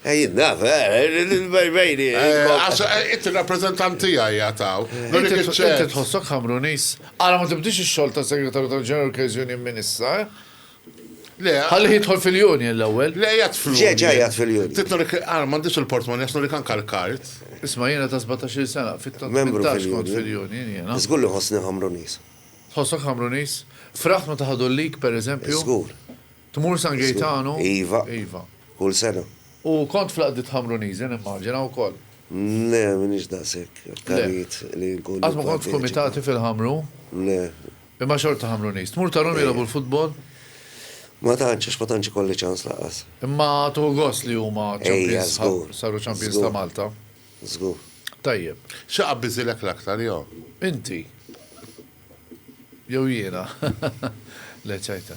Speaker 3: Jien naf,
Speaker 4: bejni. Għax
Speaker 3: int ir-rappreżentant tiegħi għad hawn. Inti tħossok
Speaker 2: Ħamruniż? Ara ma tibdiex ix-xogħol ta' Segretarju tal-General Case Union minn issa, eh?
Speaker 3: Ħallih jidħol
Speaker 2: fil-union l-ewwel. Le qiegħed fl-union. Ġej ġej
Speaker 3: qiegħed fil-union. Trid
Speaker 4: nurik, ara m'għandix
Speaker 3: il-portmonni għax nurik anke l-kard. Isma' jiena ta'
Speaker 2: sbatax-il sena, fit-tmintax kont
Speaker 4: fil-union
Speaker 2: jiena. Żgur
Speaker 4: li nħossni
Speaker 2: Ħamruniż.
Speaker 4: Tħossok Ħamruniż?
Speaker 2: Fraħt meta ħadu l-lig, pereżempju? Żgur.
Speaker 4: Tmur San
Speaker 2: Gejtanu? Iva. Iva.
Speaker 4: Kull
Speaker 2: sena.
Speaker 4: U kont fl-għaqdiet
Speaker 2: Ħamruniżi nimmaġina wkoll? Le, m'iniex
Speaker 4: daqshekk akkarit li nkun. Qatt ma kont f'kumitati
Speaker 2: fil-Ħamru? Le.
Speaker 4: Imma xorta
Speaker 2: Ħamruniż. Tmur tarahom jilgħbu l-futbol? Ma
Speaker 4: tantx, għax ma tantx ikolli ċans lanqas. Imma tieħu gost
Speaker 2: li huma champions,
Speaker 4: saru champions
Speaker 2: ta'
Speaker 4: Malta?
Speaker 2: Żgur.
Speaker 4: Tajjeb.
Speaker 2: X'aqbiżilek
Speaker 3: l-aktar jew? Inti.
Speaker 2: Jew jiena. Le ċajta.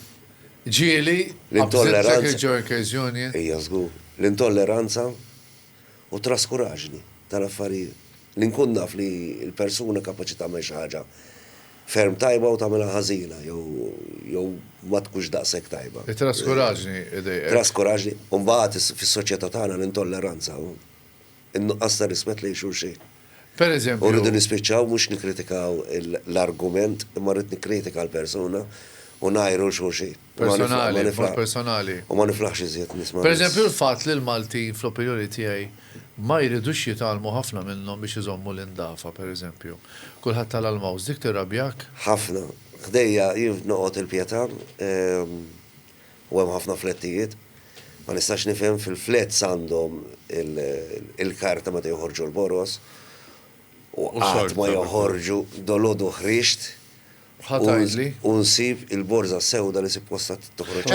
Speaker 2: Ġieli, abżent Secretary
Speaker 4: Workers Union.
Speaker 2: Ejja żgur.
Speaker 4: L-intolleranza u t-traskuraġni tal-affarijiet. Li nkun naf li l-persuna kapaċi tagħmel xi ħaġa ferm tajba u tagħmilha ħażina jew jew ma tkunx daqshekk tajba. It-traskuraġni
Speaker 2: idejqek. Traskuraġni. U
Speaker 4: mbagħad fis-soċjetà tagħna l-intolleranza. in-nuqqas ta' rispett lejn xulxin. Per eżempju. U
Speaker 2: rridu nispiċċaw mhux
Speaker 4: nikkritikaw l-argument imma rrid nikkritika l-persuna u ngħajru 'l xulxin. Personali, b'mod
Speaker 2: personali. U ma niflaħx iżjed
Speaker 4: nisma'. Per eżempju l-fatt li
Speaker 2: l-Maltin fl-opinjoni tiegħi ma jridux jitgħallmu ħafna minnhom biex iżommu l-indafa, per eżempju. Kulħadd tala' l-mouth. Dik tirrabjak? Ħafna.
Speaker 4: Ħdejja jien noqgħod il-Pietà, U hemm ħafna flettijiet. Ma nistax nifhem fil-flets għandhom il-karta meta joħorġu l-boroż u qatt ma joħorġu dolodu ħrixt
Speaker 2: u nsib
Speaker 4: il-borża sewda li sippostha toħroġ.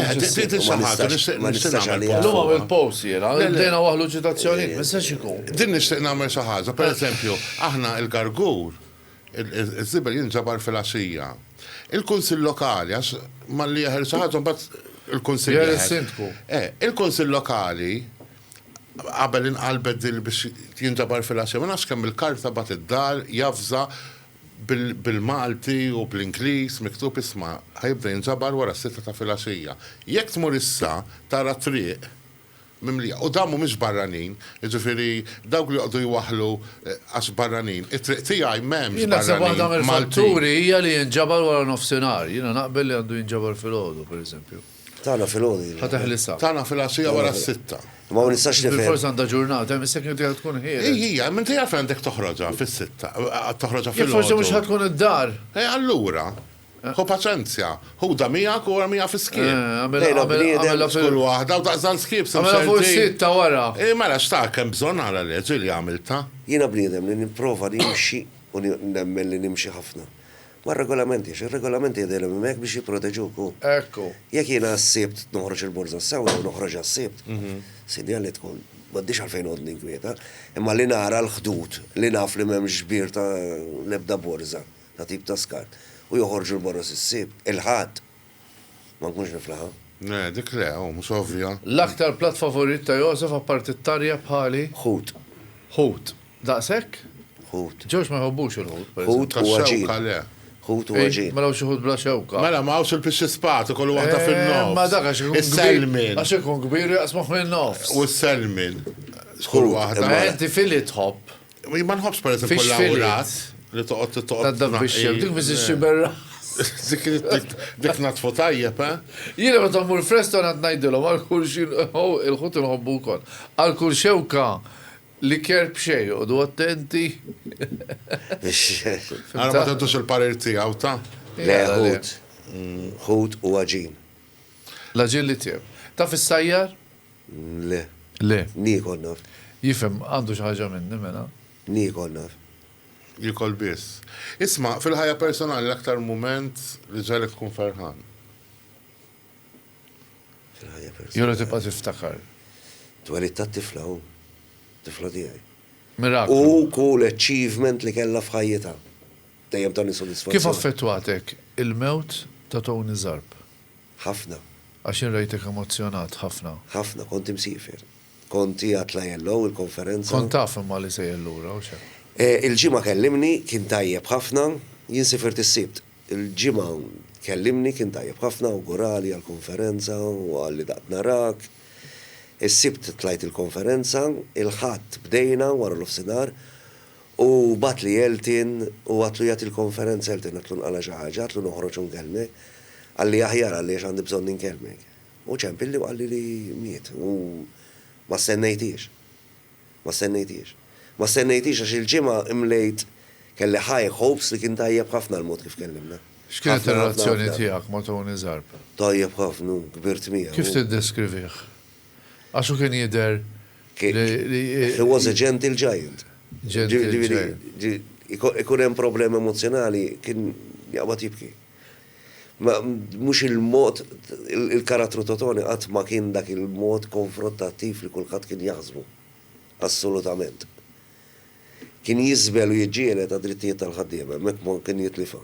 Speaker 4: Ma nistax għaliha. Illum għamilt post jiena,
Speaker 2: bdejna waħlu ċitazzjonijiet, ma jistax ikun. Din nixtieq nagħmel xi
Speaker 3: ħaġa. Pereżempju, aħna l-gargur Iż-żibel jinġabar fil-għaxija. Il-Kunsill Lokali, għax malli jeħel xi ħaġa mbagħad il-Kunsill. Jeħel is-Sindku.
Speaker 2: Eh, il-Kunsill
Speaker 3: Lokali qabel inqalbet din biex jinġabar fil-għaxija, ma nafx kemm il-karta bagħat id-dar javża bil-Malti u bl-Ingliż miktub isma' ħa jibda jinġabar wara s-sitta ta' filgħaxija. Jekk tmur issa tara t-triq. mimlija. U dawn mhumiex barranin, jiġifieri dawk li joqogħdu jwaħħlu għax barranin. It-triq tiegħi m'hemmx barranin Maltin. Jien naħseb waħda
Speaker 2: mill-fatturi hija
Speaker 3: li jinġabar
Speaker 2: waranofsinhar. Jiena naqbel li għandu jinġabar filgħodu, pereżempju. Tagħna filgħodu jien.
Speaker 4: Ħa teħlisha. Tagħna
Speaker 2: filgħaxija wara
Speaker 3: s-sitta. Imma ma nistax nifhem.
Speaker 4: Bilfors għandha ġurnata, hemm
Speaker 2: is-second tiegħek tkun ħieles. Hi hi, imma inti għalfejn
Speaker 3: għandek toħroġha fis-sitta, toħroġha filgħodu? Jekk forsi mhux ħa tkun
Speaker 2: id-dar. E allura?
Speaker 3: Ħu paċenzja. Ħudha miegħek u ormiha fis-skiep. Lejla bniedem.
Speaker 2: F'kull waħda u
Speaker 3: daqs dan skiep se mserrtin. Agħmilha fuq is-sit ta'
Speaker 2: wara. Hi mela x'tak hemm
Speaker 3: bżonn ara leġ hi li għamiltha. Jiena bniedem li
Speaker 4: nipprova nimxi u nemmen li nimxi ħafna mar-regolamenti għax ir-regolamenti qegħdilhom hemmhekk biex jipproteġuk u. Ekku. Jekk
Speaker 2: jiena għas-Sibt
Speaker 4: noħroġ il-borża s-Sewda u noħroġha s-Sibt, sinjal li tkun m'għandix għalfejn noqgħod ninkwieta. Imma li nara l-ħdud, li naf li m'hemmx ġbir ta' l-ebda borża. ta' tip ta' skart, u joħorġu 'l borra s-Sibt, il-Ħadd, ma nkunx niflaħha. Le, dik le, oh,
Speaker 3: mhux ovvja. L-aktar platt favorit
Speaker 2: ta' Josef apparti t-tarjeb bħali? Ħut.
Speaker 4: Ħut.
Speaker 2: Daqshekk? Ħut. Ġorġ
Speaker 4: ma jħobbux il-ħut,
Speaker 2: per eżempju. Ħut u għaġin. Ta' xewka, le.
Speaker 3: Ħut
Speaker 4: u għaġin. Mela hawn xi ħut bla xewka.
Speaker 2: Mela, ma hawnx il-pixxi
Speaker 3: spat, ikollu waħda fin-nofs. Imma dak għax ikun kbir.
Speaker 2: Is-selmin. Għax ikun
Speaker 3: kbir u jaqsmuh
Speaker 2: min-nofs. U s-selmin?
Speaker 3: X'kull waħda. Ħut. Imma inti fili
Speaker 2: tħobb? Ma nħobbx pereżempju
Speaker 3: Fix fili. l-awras
Speaker 2: li
Speaker 3: toqgħod toqgħod. Tad dak biex jem, dik
Speaker 2: biss ixxiber Dik dik-
Speaker 3: dik natfu tajjeb, eh? Jiena meta mmur
Speaker 2: f'restorant għad ngħidilhom għal kull xi oh, il-ħut inħobbu wkoll. Għal kull xewka liker b'xejn, joqogħdu attenti.
Speaker 3: Ara ma tentux il-parir tiegħu ta. Le, Jara, le. ħut.
Speaker 4: Ħut u għaġin. L-aġil
Speaker 2: li tjeb. Taf is-sajjar? Le.
Speaker 4: Le.
Speaker 2: Niekol naf.
Speaker 4: Jifhem, għandu xi
Speaker 2: ħaġa minni mela. Niekol naf.
Speaker 4: Jiekol
Speaker 3: biss. Isma', fil-ħajja personali l-aktar mument li ġagħlek tkun ferħan?
Speaker 4: Fil-ħajja personali. Jew li tibqa'
Speaker 2: tiftakar. Twelid
Speaker 4: tat-tifla hu. Tifla tiegħi. Miraklu. U
Speaker 2: kull
Speaker 4: achievement li kellha f'ħajjitha. Dejjem tani sodisfazzjon. Kif affettwatek
Speaker 2: il-mewt ta' Tony Zarb? Ħafna.
Speaker 4: Għax jien rajtek
Speaker 2: emozzjonat ħafna. Ħafna, kont imsiefer.
Speaker 4: Kont qiegħed la jellgħu il-konferenza. Kont taf imma li
Speaker 2: sejjer lura, u x'hemm. Il-Ġimgħa
Speaker 4: kellimni, kien tajjeb ħafna. Jien sifirt is-Sibt. Il-Ġimgħa kellimni, kien tajjeb ħafna, awgurali għall-konferenza u qal li daqt narak. Is-Sibt tlajt il-konferenza. Il-Ħadd bdejna wara l-ofsinhar. U bagħatli Elton u għadtlu jagħti l-konferenza, Elton għadtlu nqala' xi ħaġa, għadtlu noħroġ u nkellmek. Qalli aħjar qalli għax għandi bżonn inkellmek. U ċempilli u qalli li miet u ma stennejthiex. Ma stennejthiex. Ma stennejthiex għax il-ġimgħa imlejt kelli high hopes li kien tajjeb ħafna l-mod kif kellimna. X'kienet ir-relazzjoni
Speaker 2: tiegħek ma' Tony Zarb? Tajjeb ħafna,
Speaker 4: kbirt miegħu. Kif tiddeskrivih?
Speaker 2: Għax hu kien jidher li.
Speaker 4: He was a gentle giant. Ikun hemm problemi emozzjonali kien jaqbad jibki. Mhux il-mod, il-karattru ta' Tony qatt ma kien dak il-mod konfrottattiv li kulħadd kien jaħsbu. Assolutament. Kien jiżbel u jiġġieled għad-drittijiet tal-ħaddiema, hemmhekk ma kien jitlifha.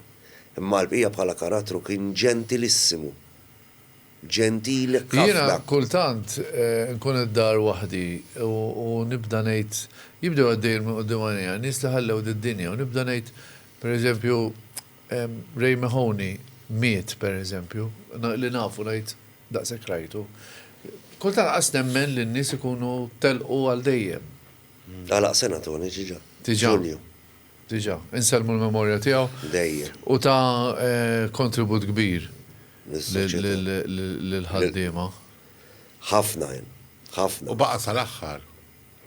Speaker 4: Imma għall-bqija bħala karattru kien ġentilissimu. ġentil Jiena ħafna. kultant
Speaker 2: nkun id-dar waħdi u nibda ngħid, jibdew għaddejjin minn quddiem għajnejja n-nies li ħallew did-dinja u nibda ngħid, per eżempju, Ray Mahoney miet, per eżempju, li nafu ngħid, daqshekk rajtu. Kultant lanqas nemmen li n-nies ikunu telqu għal dejjem. Għalaq sena
Speaker 4: Tony diġà. Diġà. Ġunju.
Speaker 2: Diġà. Insellmu l-memorja tiegħu. Dejjem. U ta kontribut kbir. lill-ħaddiema. Ħafna
Speaker 4: hemm. Ħafna. U baqa' sal-aħħar.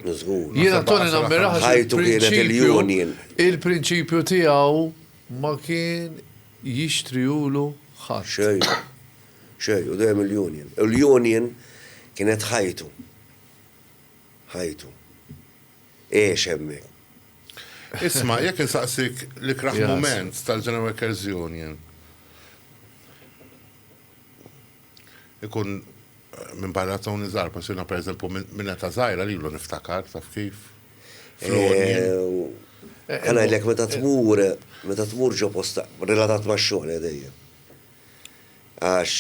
Speaker 3: Żgur.
Speaker 4: Jiena Toni nammirah
Speaker 2: il-prinċipju.
Speaker 4: Il-prinċipju
Speaker 2: tiegħu ma kien jixtriulu ħadd. Xejn. Xejn,
Speaker 4: u dejjem il-union. U l-union kienet ħajtu. Ħajtu. Għex hemmhekk. Isma',
Speaker 3: jekk insaqsik l-ikrah mument tal-General Workers Union, ikun minbarra Tony Zar, bħax jiena pereżempju minn età żgħira lilu niftakar, taf kif?
Speaker 4: Ħa ngħidlek meta tmur, meta tmur ġo posta, relatat max-xogħol dejjem. għax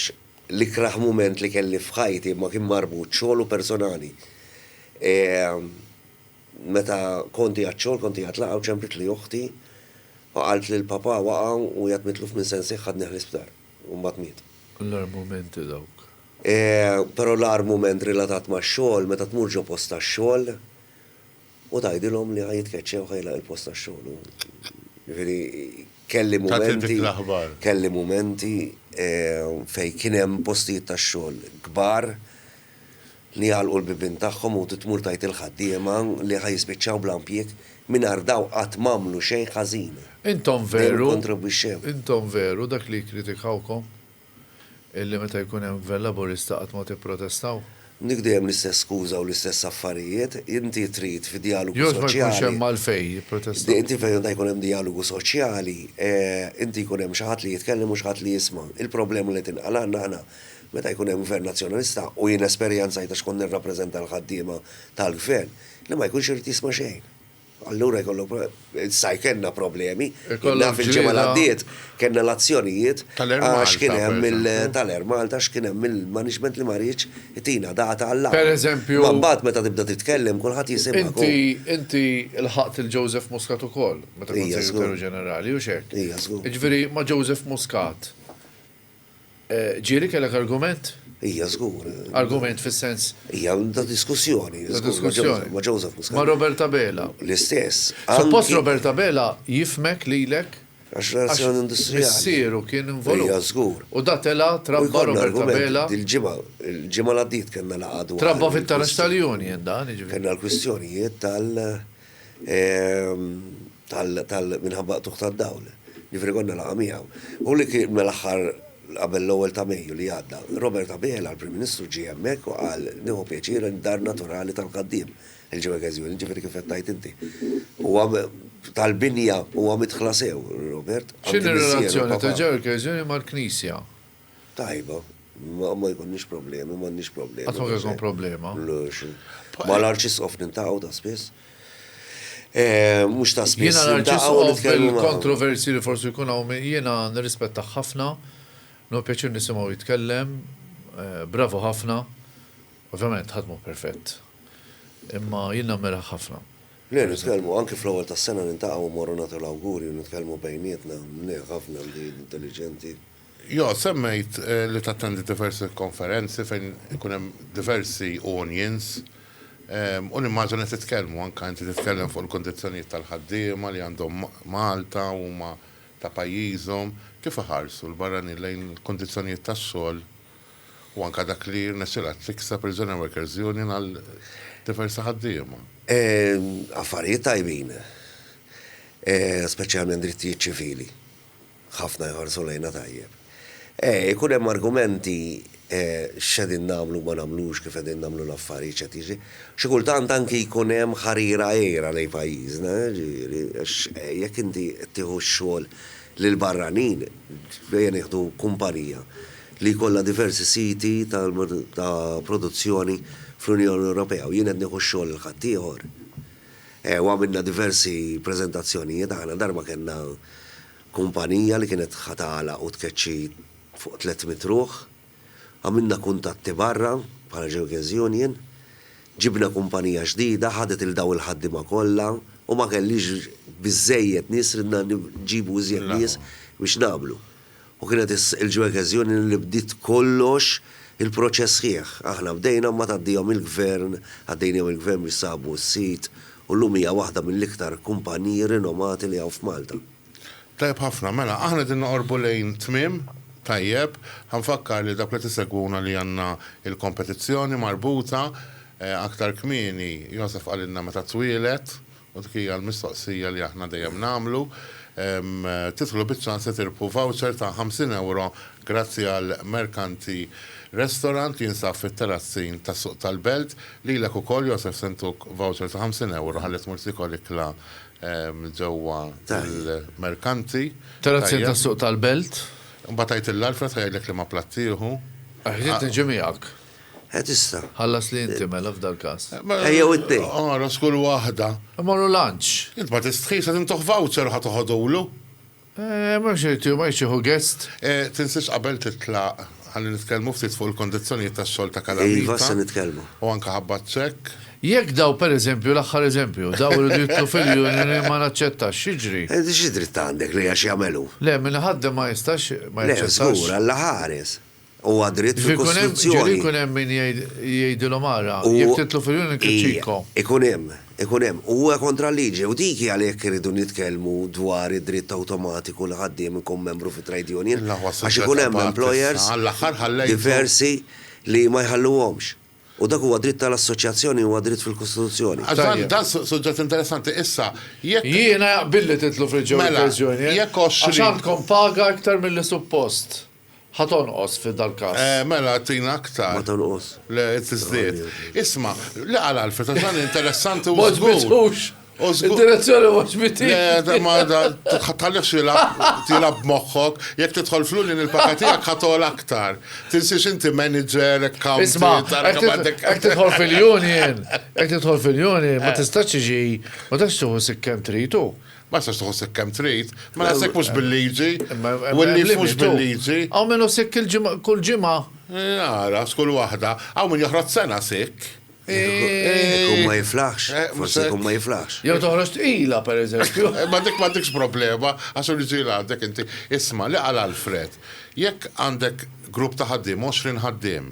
Speaker 4: l-ikrah mument li kelli f'ħajti ma kien marbut xogħol u personali. Meta kont qiegħed xogħol kont qiegħed laqgħa u ċempritli oħti u qaltli li papà waqa' u qiegħed mitluf minn sensih ħadnih l-isptar u mbagħad miet. L-agħar mumenti
Speaker 2: dawk.
Speaker 4: Però l-agħar mument relatat max-xogħol meta tmur ġo post tax-xogħol, U tgħidilhom li ħa jitkeċċew u ħa jilgħaq il-post tax-xogħol. Jiġifieri kelli mumenti, kelli mumenti fejn kien hemm postijiet tax-xogħol kbar li jagħlqu l-bibien tagħhom u tmur tgħid il-ħaddiema li ħa jispiċċaw bla impjieg mingħajr dawn qatt m'għamlu xejn ħażin. Intom veru,
Speaker 2: intom veru dak li jikkritikawkom? Illi meta jkun hemm Gvern Laburista qatt ma tipprotestaw? Dik dejjem
Speaker 4: l-istess skuża u l-istess affarijiet. Inti trid fi djalogu soċjali. Jgħoż ma jkunx hemm
Speaker 2: għalfejn jipprotestaw. Inti fejn għandha jkun hemm
Speaker 4: djalogu soċjali, inti jkun hemm xi ħadd li jitkellem u xi ħadd li jisma'. Il-problema li tinqal' għandna aħna meta jkun hemm Gvern Nazzjonalista, u jien esperjenzajtha għax kont nirrappreżenta l-ħaddiema tal-Gvern, li ma jkunx irid jisma' xejn. Allura jkollok, sa jkellna problemi. Naf il-ġimgħa li għaddiet kellna l-azzjonijiet għax kien hemm tal-Air Malta għax kien hemm il-management li ma riedx itina data għall-laqgħa. Pereżempju. Imma mbagħad
Speaker 2: meta tibda
Speaker 4: titkellem kulħadd jisimgħek. Inti
Speaker 2: lħaqt lil Joseph Muscat ukoll meta kont Segretarju Ġenerali, hux hekk? Jiġifieri ma' Joseph Muscat Ġieli, kellek argument? Ija, żgur.
Speaker 4: Argument fis-sens?
Speaker 2: Ija, ta'
Speaker 4: diskussjoni. Ta' diskussjoni. Ma' Joseph Muscat. Ma' Robert Abela.
Speaker 2: L-istess. Suppost
Speaker 4: Robert
Speaker 2: Abela jifhmek lilek. Għax relazzjoni
Speaker 4: industrijali. Għax missieru kien involut.
Speaker 2: Ija, żgur. U da
Speaker 4: tela' trabba
Speaker 2: Robert Abela. Dil-ġimgħa, il-ġimgħa
Speaker 4: li għaddiet kellna laqgħa dwar. Trabba fit-taraġ
Speaker 2: tal-union dan, jiġifieri. Kellna l-kwistjonijiet
Speaker 4: tal. tal minħabba qtugħ tad-dawl. Ġifieri konna laqgħa miegħu. U li kien mal-aħħar qabel l-ewwel ta' Mejju li għadda, Robert Abela, l-Prim Ministru ġie hemmhekk u qal nieħu pjaċir li d-dar naturali tal-Qaddiem, il-Ġimgħa Każjuni, ġifieri kif qed tgħid inti. Huwa tal-binja, huwa midħla sew, Robert. X'inhi r-relazzjoni
Speaker 2: ta' Ġimgħa Każjuni mal-Knisja? Tajba,
Speaker 4: ma jkunniex problemi, m'għandniex problemi. Qatt ma kien ikun problema.
Speaker 2: Ma
Speaker 4: l-arċisqof nintaqgħu ta' spiss. Eh, mhux ta' spiss. Jiena l-arċisqof
Speaker 2: fil-kontroversi li forsi jkun hawn jiena nirrispetta ħafna, no pjaċir nisimgħu jitkellem, eh, bravu ħafna. Ovvjament ħadd mhu perfett. Imma jien nammira ħafna. Le, nitkellmu
Speaker 4: anke fl-ewwel tas-sena nintaqgħu morru nagħtu l-awguri u nitkellmu bejnietna, mniegħ ħafna li intelliġenti. Jo,
Speaker 3: semmejt li tattendi diversi konferenzi fejn ikun hemm diversi unions u nimmaġina titkellmu, anke inti titkellem fuq il-kundizzjonijiet tal-ħaddiema li għandhom Malta u huma ta' pajjiżhom. Kif iħarsu l-barranin lejn il-kundizzjonijiet tax-xogħol u anke dak li rnexxielha tikseb il-General Workers Union għal diversi ħaddiema?
Speaker 4: Affarijiet tajbin, speċjalment drittijiet ċivili. ħafna jħarsu lejna tajjeb. Eh, ikun hemm argumenti eh, x'qegħdin nagħmlu u ma nagħmlux, kif qegħdin nagħmlu l-affarijiet, x'qed jiġri. Xi kultant anki jkun hemm ħarira għira lejn pajjiżna, eh, ġifieri, għax eh, jekk inti qed tieħu x-xogħol lil barranin, ejja nieħdu kumpanija li jkollha diversi siti ta' produzzjoni fl-Unjoni Ewropea u jien qed nieħu x-xogħol lil ħaddieħor, U għamilna diversi preżentazzjonijiet aħna. Darba kellna kumpanija li kienet ħa tagħlaq u tkeċċi fuq tliet mitt ruħ. Għamilna kuntatti barra bħala Jurgen's Union. Ġibna kumpanija ġdida, ħadet 'il dawn il-ħaddiema kollha u ma kellix biżżejjed nies ridna nġibu iżjed nies biex nagħmlu. U kienet il-ġwekeżjoni li bdiet kollox il-proċess sħiħ. Aħna bdejna mbagħad għaddihom il-Gvern, għaddejnihom il-Gvern biex sabu s-sit u llum hija waħda mill-iktar kumpaniji rinomati li hawn f'Malta. Tajjeb ħafna,
Speaker 3: mela aħna qegħdin noqorbu lejn tmiem, tajjeb, ħa nfakkar lil dawk li qed isegwuna li għandna l-kompetizzjoni marbuta aktar kmieni, Joseph qalilna meta twieled. U dik hija l-mistoqsija li aħna dejjem nagħmlu. Tidħlu biċ-ċans li tirbħu voucher ta' 50 ewro grazzi għal Mercanti Restaurant li jinsab fit-Terrazzin tas-Suq tal-Belt. Lilek ukoll, Josef, se ntuk voucher ta' 50 ewro ħalli tmur tiekol ikla ġewwa l-Mercanti. Terrazzin
Speaker 2: tas-Suq tal-Belt. Imbagħad għidtilha
Speaker 3: Alfred ħa jgħidlek liema platt tieħu. Ħsibt niġi
Speaker 2: miegħek. Eh tista'.
Speaker 4: Ħallasli inti
Speaker 2: mela f'dal-każ. Eh jew it-tnejn.
Speaker 4: Oros kull waħda.
Speaker 3: Immorru lunch.
Speaker 2: Int ma tistħix qed
Speaker 3: intuh voucher u ħa toħodulu. Eh
Speaker 2: mhux irid hu ma jridx jieħu guest. Eh tinsiex qabel
Speaker 3: titlaq ħalli nitkellmu ftit fuq il-kondizzjonijiet tax-xogħol ta' Calamita. Iva se nitkellmu. U
Speaker 4: anke ħabba
Speaker 3: ċekk. Jekk daw per
Speaker 2: eżempju, l-aħħar eżempju, daw iridu jidħlu fil-union ma naċċettax, x'jiġri? Eh xi dritt għandek
Speaker 4: li għax jagħmel hu? Le min iħaddem ma
Speaker 2: jistax ma jaċċettax. Le żgur, Alla ħares.
Speaker 4: Huwa dritt fil-Kostituzzjoni. Ġieli
Speaker 2: jkun hemm
Speaker 4: min
Speaker 2: jgħidilhom ara, jekk titlu fil-Union Kizzico. Ikun hemm,
Speaker 4: ikun hemm. U huwa kontra l-liġi. U dik hi għalhekk irridu nitkellmu dwar id-dritt awtomatiku li ħaddiem ikun membru fi trade union. Għax ikun hemm employers diversi li ma jħalluhomx. U dak huwa dritt tal-assoċjazzjoni, huwa dritt fil-Kostituzzjoni. Dan
Speaker 3: suġġett interessanti. Issa, jekk. Jiena
Speaker 2: jaqbidli titlu fil-Union Kizzico. Mela, jekk 20. Għax għandkom
Speaker 3: paga
Speaker 2: iktar milli suppost. Ħa tonqos fi dal-każ. Eh, mela, tina
Speaker 3: aktar. Ma tonqos.
Speaker 4: Le, tiżdied.
Speaker 3: Isma', li qal Alfred, għax dan interessanti u żgur. Ma ġbitux.
Speaker 2: Id-direzzjoni ma ġbitix. Le, ma
Speaker 3: tħallix tilab moħħok, jekk tidħol flulli nil-paka tiegħek ħatol aktar. Tinsiex inti manager, account. Isma',
Speaker 2: jekk tidħol fil-union, jekk tidħol fil-union, ma tistax iġi, ma tistax tuħu sikkem tritu. Ma jistax tħossek
Speaker 3: kemm trid, ma naħsek mhux bil-liġi, u n-nies mhux bil-liġi. Hawn min hu sikk
Speaker 2: kull ġimgħa. Ara,
Speaker 3: skull waħda, hawn min joħroġ sena sikk. Ikun
Speaker 4: ma jiflaħx, forsi ikun ma jiflaħx. Jew toħroġ tqila,
Speaker 2: pereżempju. Ma dik ma dikx
Speaker 3: problema, għax hu ġieli għandek inti. Isma' li qal Alfred, jekk għandek grupp ta' ħaddiem, 20 ħaddiem,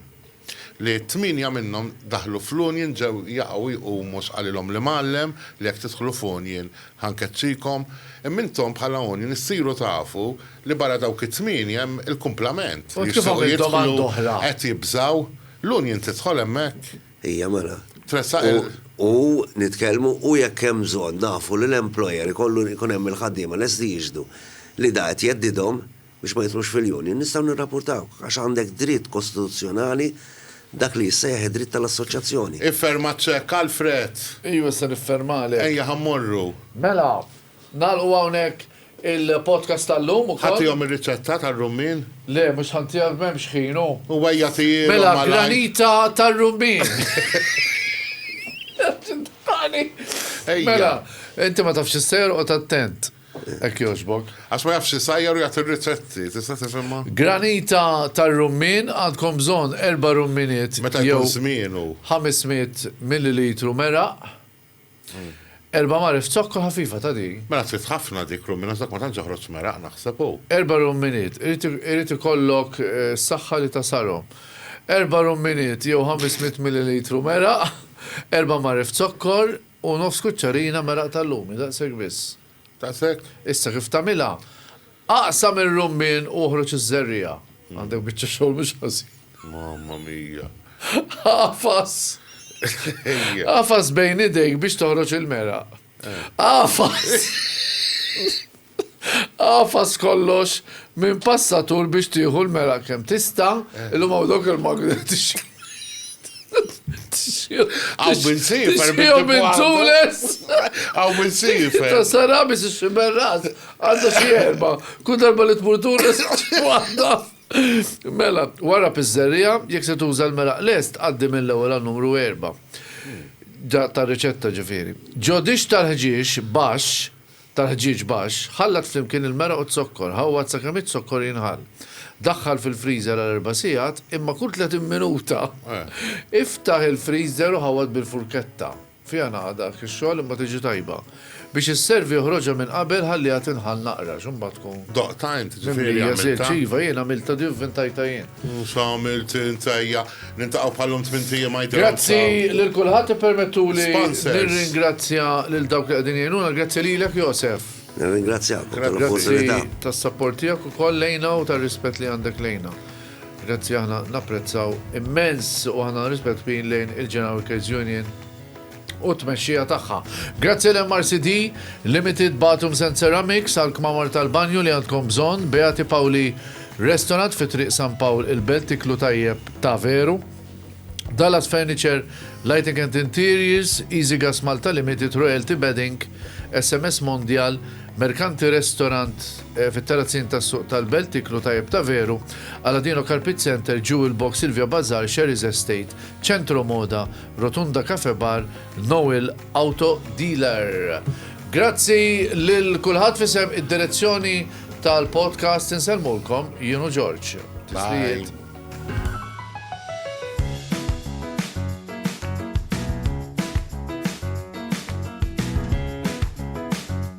Speaker 3: li tmienja minnhom daħlu fl-union ġew jaqgħu jqumu sqalilhom l-imgħallem li jekk tidħlu f'union ħa nkeċċikom, imma intom bħala union issiru tafu li barra dawk it-tmienja hemm il-kumplament li jixtiequ
Speaker 2: jidħlu qed jibżgħu
Speaker 3: l-union tidħol hemmhekk. Hija mela.
Speaker 4: Tressaq il. U
Speaker 3: nitkellmu
Speaker 4: u jekk hemm bżonn nafu li l-employer ikollu jkun hemm il-ħaddiema lesti jixhdu li da qed jeddidhom, biex ma jidħlux fil-Union, nistgħu nirrapurtawh għax għandek dritt kostituzzjonali dak li jissejjaħ id-dritt tal-assoċjazzjoni. Ifferma ċ-ċekk,
Speaker 3: Alfred! Iju issa
Speaker 2: niffermalek. Ejja ħa mmorru.
Speaker 3: Mela,
Speaker 2: nagħlqu hawnhekk il-podcast tal-lum ukoll. Ħa tihom ir-riċetta
Speaker 3: tar-rummien? Le, mhux ħa ntiha
Speaker 2: m'hemmx ħin hu. U ejja tihielhom malajr.
Speaker 3: Mela, granita
Speaker 2: tar-rummien. Ejja. Mela, inti ma tafx xi ssejjer, oqgħod attent. Hekk jogħġbok. Għax ma jafx isajjar
Speaker 3: u jagħti r-riċetti, tista' tifhimha? Granita
Speaker 2: tar-rummien, għandkom bżonn erba' rumminiet jew 500
Speaker 3: millilitru
Speaker 2: meraq, erba' magħref zokkor ħafifa ta' din. Mela trid ħafna dik
Speaker 3: rummien għax dak ma tantx joħroġ meraq naħseb hu. Erba' rumminiet,
Speaker 2: irid ikollok s-saħħa li tasarhom. Erba' rumminiet jew 500 millilitru meraq, erba' magħref zokkor, U nofs kuċċarina meraq tal-lumi, daqshekk biss. Daqshekk?
Speaker 3: Issa kif tagħmilha,
Speaker 2: aqsam ir-rummien u oħroġ iż-żerriegħa. Għandek biċċa xogħol mhux ħażin. Mamma
Speaker 3: mia! Agħfas!
Speaker 2: Agħfas bejn idejk biex toħroġ il-meraq. Agħfas! Agħfas kollox minn passatur biex tieħu l-mela kemm tista', illum hawn dawk il-magneti Għaw
Speaker 3: minn sifer Tixħiju minn
Speaker 2: tules. Għaw minn
Speaker 3: sifer. Ta' sarabi si
Speaker 2: xiberras. Għadda xie erba. Kun darba li tmur tules. Għadda. Mela, wara pizzerija, jek se tuża l-meraq lest, għaddi mill-ewwel għal numru erba. Ta' riċetta ġifieri. Ġodix tal-ħġiex baxx tal-ħġieġ baxx, ħallat flimkien il-meraq u z-zokkor, ħawwad sakemm iz-zokkor jinħall. Daħħal fil-freezer għal erba' sigħat, imma kull 30 minuta iftaħ il-freezer u ħawwad bil-furketta, fiha naqa' dak ix-xogħol imma tiġi tajba. Biex isservi oħroġha minn qabel ħalliha tinħall naqra x'imbagħad tkun. Doqtha int, ġifieri
Speaker 3: għamiltha? Iva jien
Speaker 2: għamiltha, din vvintajtha jien. X'għamilt int
Speaker 3: ejja niltaqgħu bħalhom tmint ijiem ma jidhirhomx ta' Grazzi lil kulħadd,
Speaker 2: ippermettuli Sponsors. nirringrazzja lil dawk li qegħdin jgħinuna, grazzi lilek Josef. Nirringrazzjakom
Speaker 4: Grazzi tal-opportunità.
Speaker 2: tas-sapport tiegħek ukoll lejna u tar-rispett li għandek lejna. Grazzi aħna napprezzaw immens u aħna rispett kbir lejn il-General Workers Union. u t-tmexxija tagħha. Grazzi għal MRCD, Limited Bathrooms and Ceramics għal kmamar tal-banju li għandkom bżonn, Beati Paoli Restaurant fi Triq San Pawl il-Belt tiklu tajjeb ta' veru, Dallas Furniture, Lighting and Interiors, Easy Gas Malta Limited, Royalty Bedding, SMS Mondial, Mercanti Restaurant eh, fit-Terrazzin tas-Suq tal-Belt tiklu tajjeb ta' veru, Aladino Carpet Center, Jewel Box, Silvia Bazar, Sherry's Estate, Centro Moda, Rotunda Cafe Bar Noel Auto Dealer. Grazzi lil kulħadd f'isem id-direzzjoni tal-podcast insellmulkom jien u Ġorġ. Tislijiet.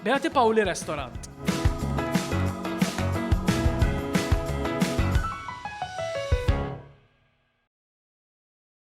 Speaker 1: Beati Paoli Restaurant.